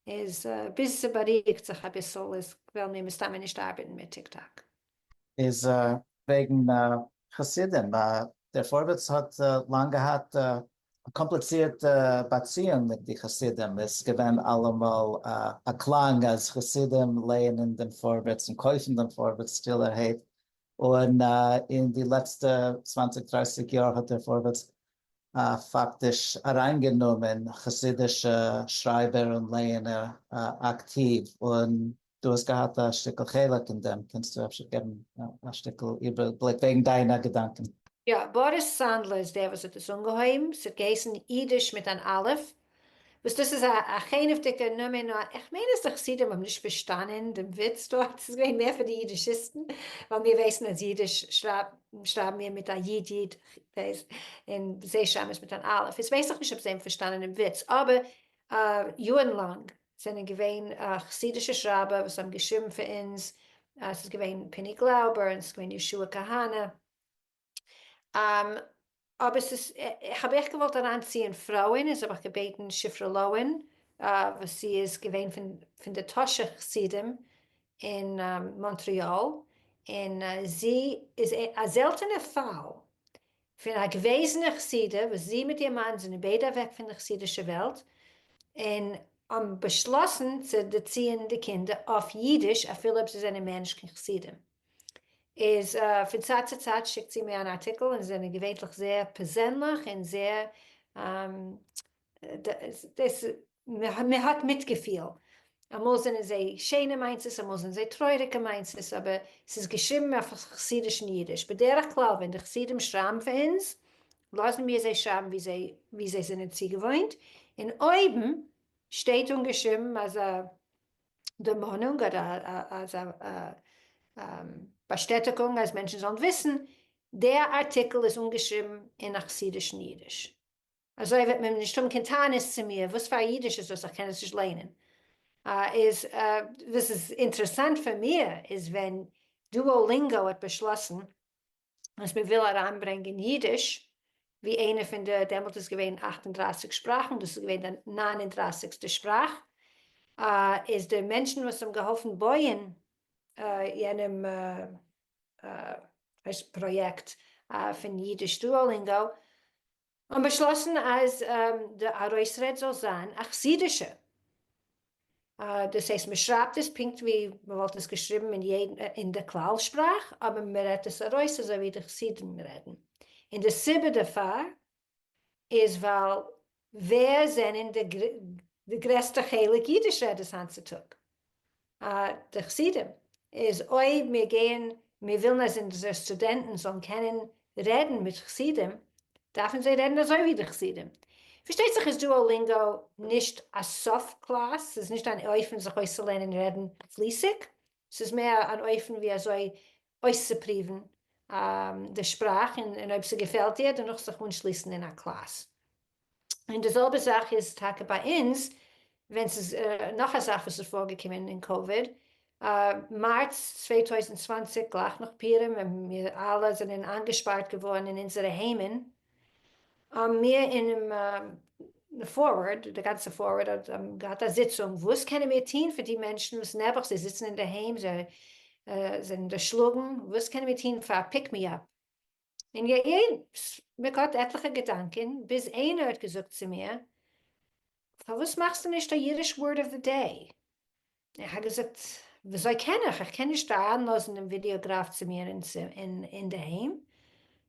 איז ביז ס'בארואיגט זיך אביסל איז וועלן מיר מסתמא נישט ארבעטן מיט טיק טאק. איז וועגן חסידים, דער פארווערטס האט לאנג געהאט א קאמפליצירטע באציאונג מיט די חסידים איז געווען אלעמאל א קלאנג אז חסידים לייענען דעם פארווערטס און קויפן דעם פארווערטס שטילערהייט, און אין די לעצטע צוואנציג דרייסיג יאר האט דער פארווערטס פאקטיש אריינגענומען חסידישע שרייבער און לייענער אקטיוו, און דו האסט געהאט א שטיקל חלק אין דעם, קענסטו אפשר געבן א שטיקל איבערבליק וועגן דיינע געדאנקען? יא, באריס סאנדלער איז דער וואס האט עס אנגעהויבן, ס'האט געהייסן אידיש מיט אן אלף, וואס דאס איז א חנעוות'דיגע נאמען, נאר איך מיין אז די חסידים האבן נישט פארשטאנען דעם וויץ דארט, ס'איז געווען מער פאר די אידישיסטן, ווייל מיר ווייסן אז אידיש שרייבן מיר מיט א י' י' און זיי שרייבן עס מיט אן אלף, איז ווייס איך נישט אויב זיי האבן פארשטאנען דעם וויץ, אבער יארן לאנג זענען געווען חסידישע שרייבער וואס האבן געשריבן פאר אונז, ס'איז געווען פיני גלאובער און ס'איז געווען יהושע כהנא, אבער ס'איז, כ'האב אייך געוואלט אריינציען פרויען, איז האב איך געבעטן שפרה לאוהן וואס זי איז געווען פון די טאהשער חסידים אין מאנטריאל, און זי איז א זעלטענע פאל, פון א געוועזענע חסידה וואס זי מיט איר מאן זענען ביידע אוועק פון די חסידישע וועלט און האבן באשלאסן צו דערציען די קינדער אויף אידיש אפילו אויב זיי זענען מער נישט קיין חסידים איז פון צייט צו צייט שיקט זי מיר אן ארטיקל און זענען געווענטליך זייער פערזענליך און זייער מ'האט מיטגעפיל, אמאל זענען זיי שענע מיינסעס אמאל זענען זיי טרויעריגע מיינסעס, אבער ס'איז געשריבן אויף חסידישן אידיש, בדרך כלל ווען די חסידים שרייבן פאר אונז לאזן מיר זיי שרייבן ווי זיי ווי זיי זענען צוגעוואוינט, און אויבן שטייט אנגעשריבן אזא דערמאנונג אדער אזא באשטעטיגונג אז מענטשן זאלן וויסן דער ארטיקל איז אנגעשריבן אין א חסידישן אידיש. אזוי וועט מען נישט האבן קיין טענות צו מיר, וואס פאר א אידיש איז דאס איך קען עס נישט ליינען? איז וואס איז אינטערעסאנט פאר מיר איז ווען דואלינגאו האט באשלאסן אז מען וויל אריינברענגען אידיש ווי איינע פון די, דעמאלט איז געווען אַכט און דרײַסיק שפראכן, דאס איז געווען די נײַן און דרײַסיקסטע שפראך, איז די מענטשן וואס האבן געהאלפן בויען יענעם פראיעקט פון אידיש דואלינגאו און באשלאסן אז די ארויסרעד זאל זיין א חסידישע, דאס הייסט מען שרייבט עס פונקט ווי מען וואלט עס געשריבן אין יעדן אין די כלל שפראך, אבער מען רעדט עס ארויס אזוי ווי די חסידים רעדן, און די סיבה דערפאר איז ווייל ווער זענען די גרעסטע חלק אידיש רעדערס היינט צו טאג? די חסידים איז אויב מיר גייען מיר ווילן אז אונזערע סטודענטן זאלן קענען רעדן מיט חסידים דארפן זיי רעדן אזוי ווי די חסידים, פארשטייט זיך איז דואלינגא נישט א סוף קלאס, ס'איז נישט אן אופן זיך אויסצולערנען רעדן פליסיג, ס'איז מער אן אופן ווי אזוי אויסצופריוון די שפראך און אויב ס'געפעלט דיר דערנאך זיך אנשליסן אין א קלאס. און די זעלבע זאך איז טאקע ביי אונז, ווען ס'איז נאך א זאך וואס איז פארגעקומען אין קאוויד, מארץ צוויי טויזנט צוואַנציק גלייך נאך פורים ווען מיר אלע זענען איינגעשפארט געווארן אין אונזערע היימען, האבן מיר אינעם פארווארד, די גאנצע פארווארד האט געהאט א זיצונג, וואס קענען מיר טון פאר די מענטשן וואס נעבעך זיי זיצן אינדערהיים, זיי זענען דערשלאגן, וואס קענען מיר טון פאר א פיק מי אפ? און יעצט מען געהאט עטליכע געדאנקען ביז איינער האט געזאגט צו מיר פארוואס מאכסטו נישט א אידיש ווארד אוו די דעי? איך האב געזאגט וויאזוי קען איך? איך קען נישט אריינלאזן דעם ווידיאגראף צו מיר אינדערהיים.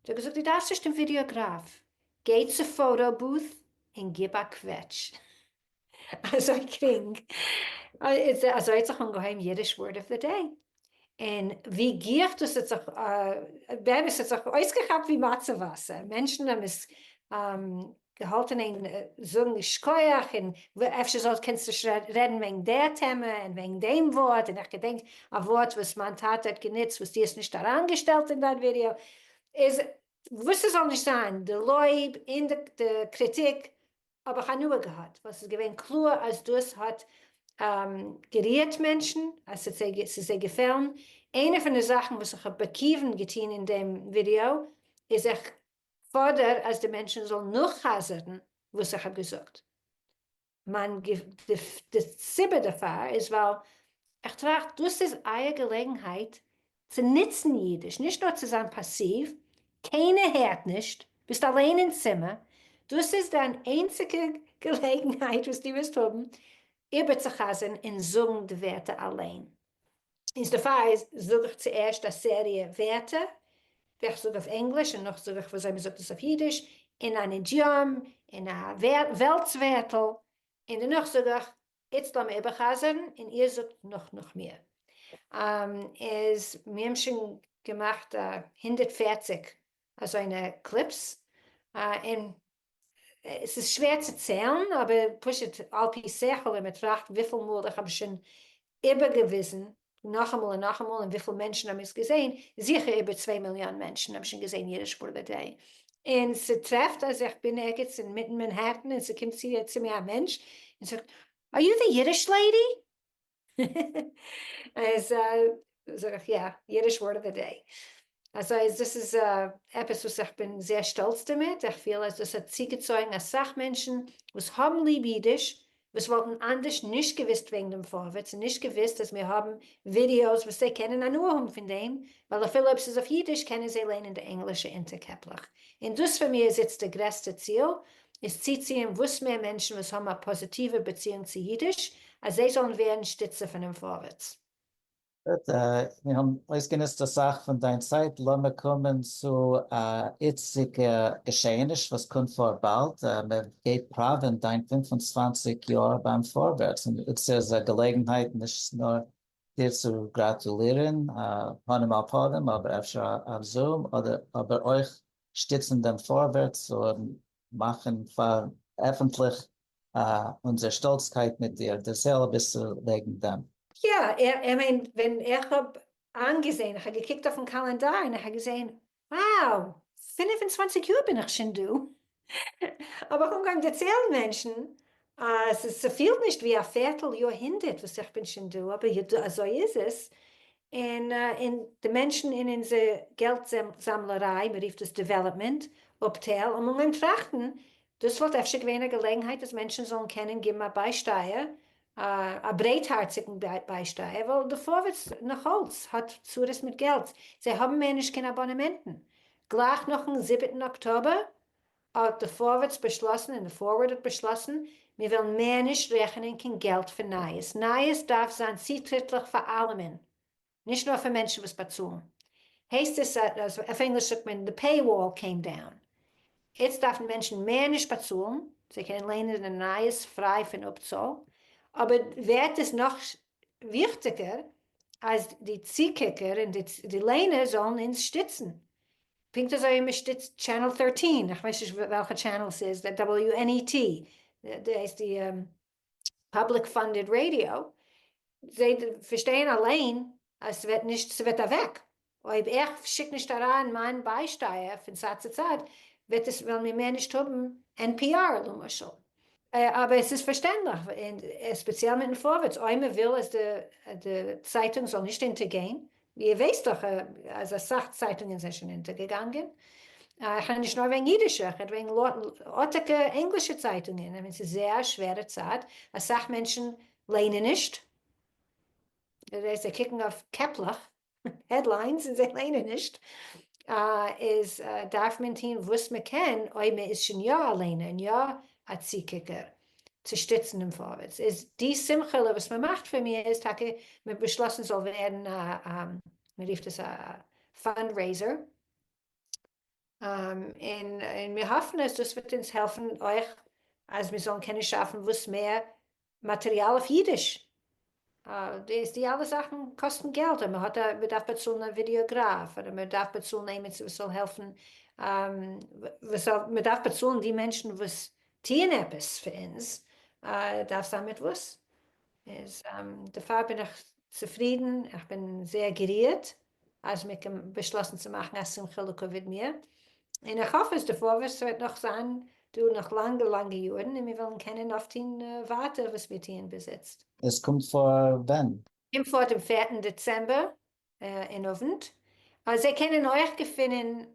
זי האט געזאגט דו דארפסט נישט דעם ווידיאגראף, גיי צו פאוטא בוט און גיב א קוועטש. אזוי גרינג, אזוי האט זיך אנגעהויבן אידיש ווארד אוו די דעי, און ווי גיך דאס האט זיך באמת האט זיך אויסגעכאפט ווי מצה וואסער, מענטשן האבן עס געהאלטן אין זאגן ייש כח, און אפשר זאל קענסטו רעדן וועגן די טעמע און וועגן דעם ווארט, און איך געדענק א ווארט וואס מיין טאטע האט גענוצט וואס דו האסט נישט אריינגעשטעלט אין דיין ווידיאו, איז וואס עס זאל נישט זיין, די לויב און די קריטיק האב איך הנאה געהאט ווייל ס'איז געווען קלאר אז דאס האט גערירט מענטשן, אז ס'איז זיי געפעלן. איינע פון די זאכן וואס איך האב בכיוון געטון אין דעם ווידיאו איז איך פאדער אז די מענטשן זאלן נאכחזר'ן וואס איך האב געזאגט. די סיבה דערפאר איז ווייל איך טראכט דאס איז אייער געלעגנהייט צו נוצן אידיש, נישט נאר צו זיין פאסיוו, קיינער הערט נישט, ביסט אליין אין צימער, דאס איז דיין איינציגע געלעגנהייט וואס דו וועסט האבן איבערצוחזר'ן און זאגן די ווערטער אליין. איז דערפאר זאג איך צוערשט א סעריע ווערטער וועלכע איך זאג אויף ענגליש און נאך זאג איך וויאזוי מען זאגט עס אויף אידיש, אין אן אידיאם, אין א וועלטס ווערטל, און דערנאך זאג איך איצט לאמיר איבערחזרן און איר זאגט נאך נאך מיר. איז מיר האבן שוין געמאכט הונדערט פֿערציק אזוינע קליפס, און ס'איז שווער צו ציילן אבער פשוט על פי שכל ווען מ'טראכט וויפיל מאל איך האב שוין איבערגעוויזן נאכאמאל און נאכאמאל, און וויפיל מענטשן האבן עס געזעהן? זיכער איבער צוויי מיליאן מענטשן האבן שוין געזעהן יעדע שפור וועט דעי. און ס'טרעפט אז איך בין ערגעץ אינמיטן מענהעטן און ס'קומט צו צו מיר א מענטש און זאגט אר יו די אידיש לעידי? אז זאג איך יא, יעדע שפור וועט דעי. אזוי אז דאס איז עפעס וואס איך בין זייער שטאלץ דערמיט, איך פיל אז דאס האט צוגעצויגן אסאך מענטשן וואס האבן ליב אידיש, וואס וואלטן אנדערש נישט געוויסט וועגן דעם פארווערטס און נישט געוויסט אז מיר האבן ווידיאוס וואס זיי קענען הנאה האבן פון דעם, ווייל אפילו אויב ס'איז אויף אידיש קענען זיי ליינען די ענגלישע אונטערקעפלעך. און דאס פאר מיר איז איצט די גרעסטע ציל, איז צוציען וואס מער מענטשן וואס האבן א פאזיטיווע באציאונג צו אידיש, אז זיי זאלן ווערן שטיצער פונעם פארווערטס. גוט, מיר האבן אויסגענוצט אסאך פון דיין צייט, לאמיר קומען צו א איצטיגע געשעעניש וואס קומט פאר באלד, מען גייט פראווען דיין פֿינף און צוואַנציק יאר ביים פארווערטס, און אונז איז א געלעגנהייט נישט נאר דיר צו גראטולירן פנים אל פנים אבער אפשר אויף זום, אבער אויך שטיצן דעם פארווערטס און מאכן פאר עפענטליך אונזער שטאלצקייט מיט דיר, דער סעל אביסל וועגן דעם. יא, איך מיין ווען איך האב איינגעזעהן, איך האב געקוקט אויפן קאלענדאר און איך האב געזעהן, wow, פֿינף און צוואַנציק יאר בין איך שוין דא, האב איך אנגעהויבן דערציילן מענטשן אז ס'פילט נישט ווי א פערטל יאר הונדערט וואס איך בין שוין דא, אבער אזוי איז עס, און און די מענטשן אין אונזער געלט זאמלעריי, מען רופט דאס דעוועלאפמענט אפטייל, האבן אנגעהויבן טראכטן, דאס וואלט אפשר געווען א געלעגנהייט אז מענטשן זאלן קענען געבן א ביישטייער, א ברייטהארציגן ביישטייער, ווייל די פארווערטס נאך אלץ האט צרות מיט געלט, זיי האבן מער נישט קיין אבאנעמענטן, גלייך נאכן זיבעטן אקטאבער האט די פארווערטס באשלאסן און די פארווערד האט באשלאסן, מיר וועלן מער נישט רעכענען קיין געלט פון נייעס, נייעס דארף זיין צוטריטליך פאר אלעמען, נישט נאר פאר מענטשן וואס באצאלן, הייסט עס אז, אויף ענגליש זאגט מען the pay wall came down, איצט דארפן מענטשן מער נישט באצאלן, זיי קענען ליינען די נייעס פריי פון אפצאל, אבער ווערט עס נאך וויכטיגער אז די צוקוקער און די ליינער זאלן אונז שטיצן, פונקט אזוי ווי מ'שטיצט טשענעל טערטין, איך ווייס נישט וועלכע טשענעל ס'איז, די WNET, די הייסט די פאבליק פאנדעד ראדיא, זיי פארשטייען אליין אז ס'וועט נישט, ס'וועט אוועק, אויב איך שיק נישט אריין מיין ביישטייער פון צד צו צד, וועט עס, וועלן מיר מער נישט האבן NPR למשל. אבער ס'איז פארשטענדליך, ספעציעל מיטן פארווערטס, אויב מ'וויל אז די צייטונג זאל נישט אונטערגיין, איר ווייסט דאך אז אסאך צייטונגען זענען שוין אונטערגעגאנגען, איך רעד נישט נאר וועגן אידישע, איך רעד וועגן ארטיגע ענגלישע צייטונגען, איך מיין ס'איז זייער א שווערע צייט, אסאך מענטשן ליינען נישט, זיי קוקן אויף קעפלעך, העדליינס, און זיי ליינען נישט, איז דארף מען טוהן וואס מען קען אויב מען איז שוין יא א ליינער און יא א צוקוקער, צו שטיצן דעם פארווערטס איז די שמחה'לע וואס מען מאכט פון מיר איז טאקע מען האט באשלאסן ס'זאל ווערן א מען רופט עס א פאנדרעיזער און מיר האפן אז דאס וועט אונז העלפן אויך אז מיר זאלן קענען שאפן וואס מער מאטריאל אויף אידיש די אלע זאכן קאסטן געלט און מ'האט א מ'דארף באצאלן א ווידיאגראף אדער מ'דארף באצאלן עימיצער וואס זאל העלפן וואס מ'דארף באצאלן די מענטשן וואס טוען עפעס פאר אונז דארף זיין מיט וואס איז דערפאר בין איך צופרידן איך בין זייער גערירט אז מען קען באשלאסן צו מאכן א שמחה לקוביד מיר, און איך האף אז די פארווערטס וועט נאך זיין דא נאך לאנגע לאנגע יארן און מיר וועלן קענען אויפטוהן ווייטער וואס מיר טוען ביז איצט. עס קומט פאר ווען? קומט פאר דעם פערטן דעצעמבער אין אוונט. זיי קענען אויך געפינען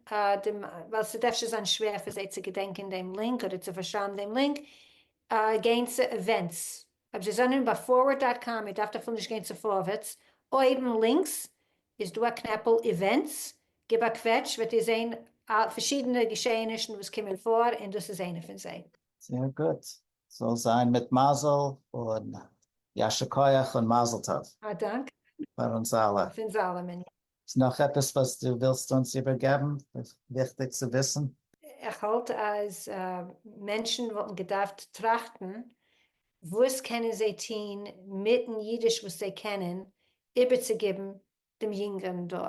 דעם, ווייל ס'וועט אפשר זיין שווער פאר זיי צו געדענקען דעם לינק אדער צו פארשרייבן דעם לינק, גיין צו עווענטס אויב זיי זענען ביי פארווערד דאט קאם איר דארפט אפילו נישט גיין צו פארווערטס, אויבן לינקס איז דא א קנעפל איווענטס, גיב א קוועטש וועט איר זען פארשידענע געשעהענישן וואס קומען פאר און דאס איז איינע פון זיי. זייער גוט, זאל זיין מיט מזל און יישר כח און מזל טוב. א דאנק. פאר אונז אלע. פון זאלעמען. איז נאך עפעס וואס דו ווילסט אונז איבערגעבן וויכטיג צו וויסן? איך האלט אז מענטשן וואלטן געדארפט טראכטן וואס קענען זיי טוהן מיטן אידיש וואס זיי קענען איבערצוגעבן דעם יונגערן דור,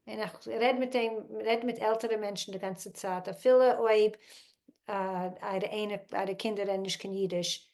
און איך רעד מיט דעם, רעדט מיט עלטערע מענטשן די גאנצע צייט אפילו אויב אייערע קינדער רעדן נישט קיין אידיש,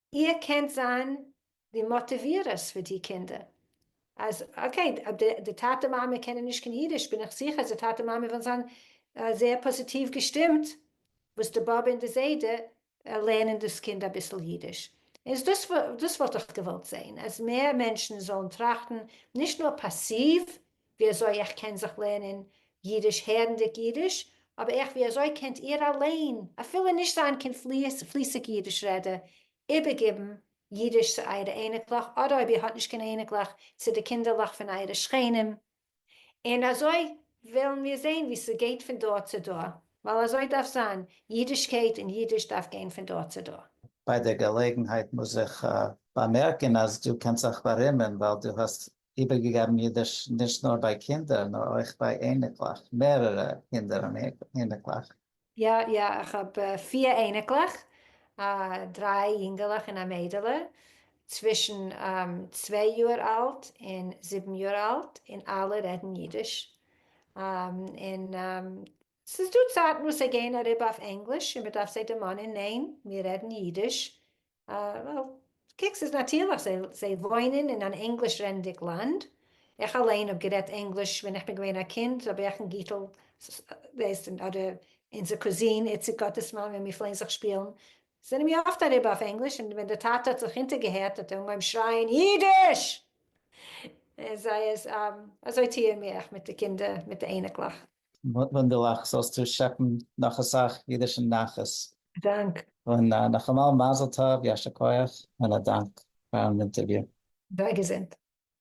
איר קענט זיין די מאטיווירערס פאר די קינדער, אז אקעי די טאטע מאמע קענען נישט קיין אידיש, בין איך זיכער אז די טאטע מאמע וועלן זיין זייער פאזיטיוו געשטימט וואס די באבע און די זיידע לערנען דאס קינד אביסל אידיש, איז דאס דאס וואלט איך געוואלט זען, אז מער מענטשן זאלן טראכטן נישט נאר פאסיוו, ווי אזוי איך קען זיך לערנען אידיש הערנדיג אידיש, אבער איך ווי אזוי קענט איהר אליין, אפילו נישט זיין קיין פליסיג אידיש רעדער, איבערגיבן אידיש צו אייערע אייניקלעך, אדער אויב איר האט נישט קיין אייניקלעך, צו די קינדערלעך פון אייערע שכנים, און אזוי וועלן מיר זעהן ווי ס'גייט פון דור צו דור, ווייל אזוי דארף זיין, אידישקייט און אידיש דארף גיין פון דור צו דור. ביי דער געלעגנהייט מוז איך באמערקען אז דו קענסט זיך בארימען ווייל דו האסט איבערגעגעבן אידיש נישט נאר ביי קינדער נאר אויך ביי אייניקלעך, מערערע קינדער און אייניקלעך. יא יא איך האב פיר אייניקלעך, דריי יונגעלעך און א מיידעלע, צווישן צוויי יאר אלט און זיבן יאר אלט, און אלע רעדן אידיש, און ס'איז דא צייטן וואס זיי גייען אריבער אויף ענגליש און מ'דארף זיי דערמאנען ניין מיר רעדן אידיש, וועל, קוק, ס'איז נאטירליך, זיי וואוינען אין אן ענגליש רעדנדיג לאנד, איך אליין האב גערעדט ענגליש ווען איך בין געווען א קינד, אבער איך און גיטל, ווייסט, אדער אונזער קוזין איציק גאטעסמאן ווען מיר פלעגן זיך שפילן, זענען מיר אפט אריבער אויף ענגליש, און ווען דער טאטע האט זיך אונטערגעהערט האט ער אנגעהויבן שרייען אידיש! און זיי איז, אזוי טוען מיר, איך מיט די קינדער, מיט די אייניקלעך. וואונדערליך, זאלסטו שעפן נאך אסאך אידישן נחת. דאנק. און נאכאמאל מזל טוב, יישר כח, און א דאנק פארן אינטערוויו. זיי געזונט.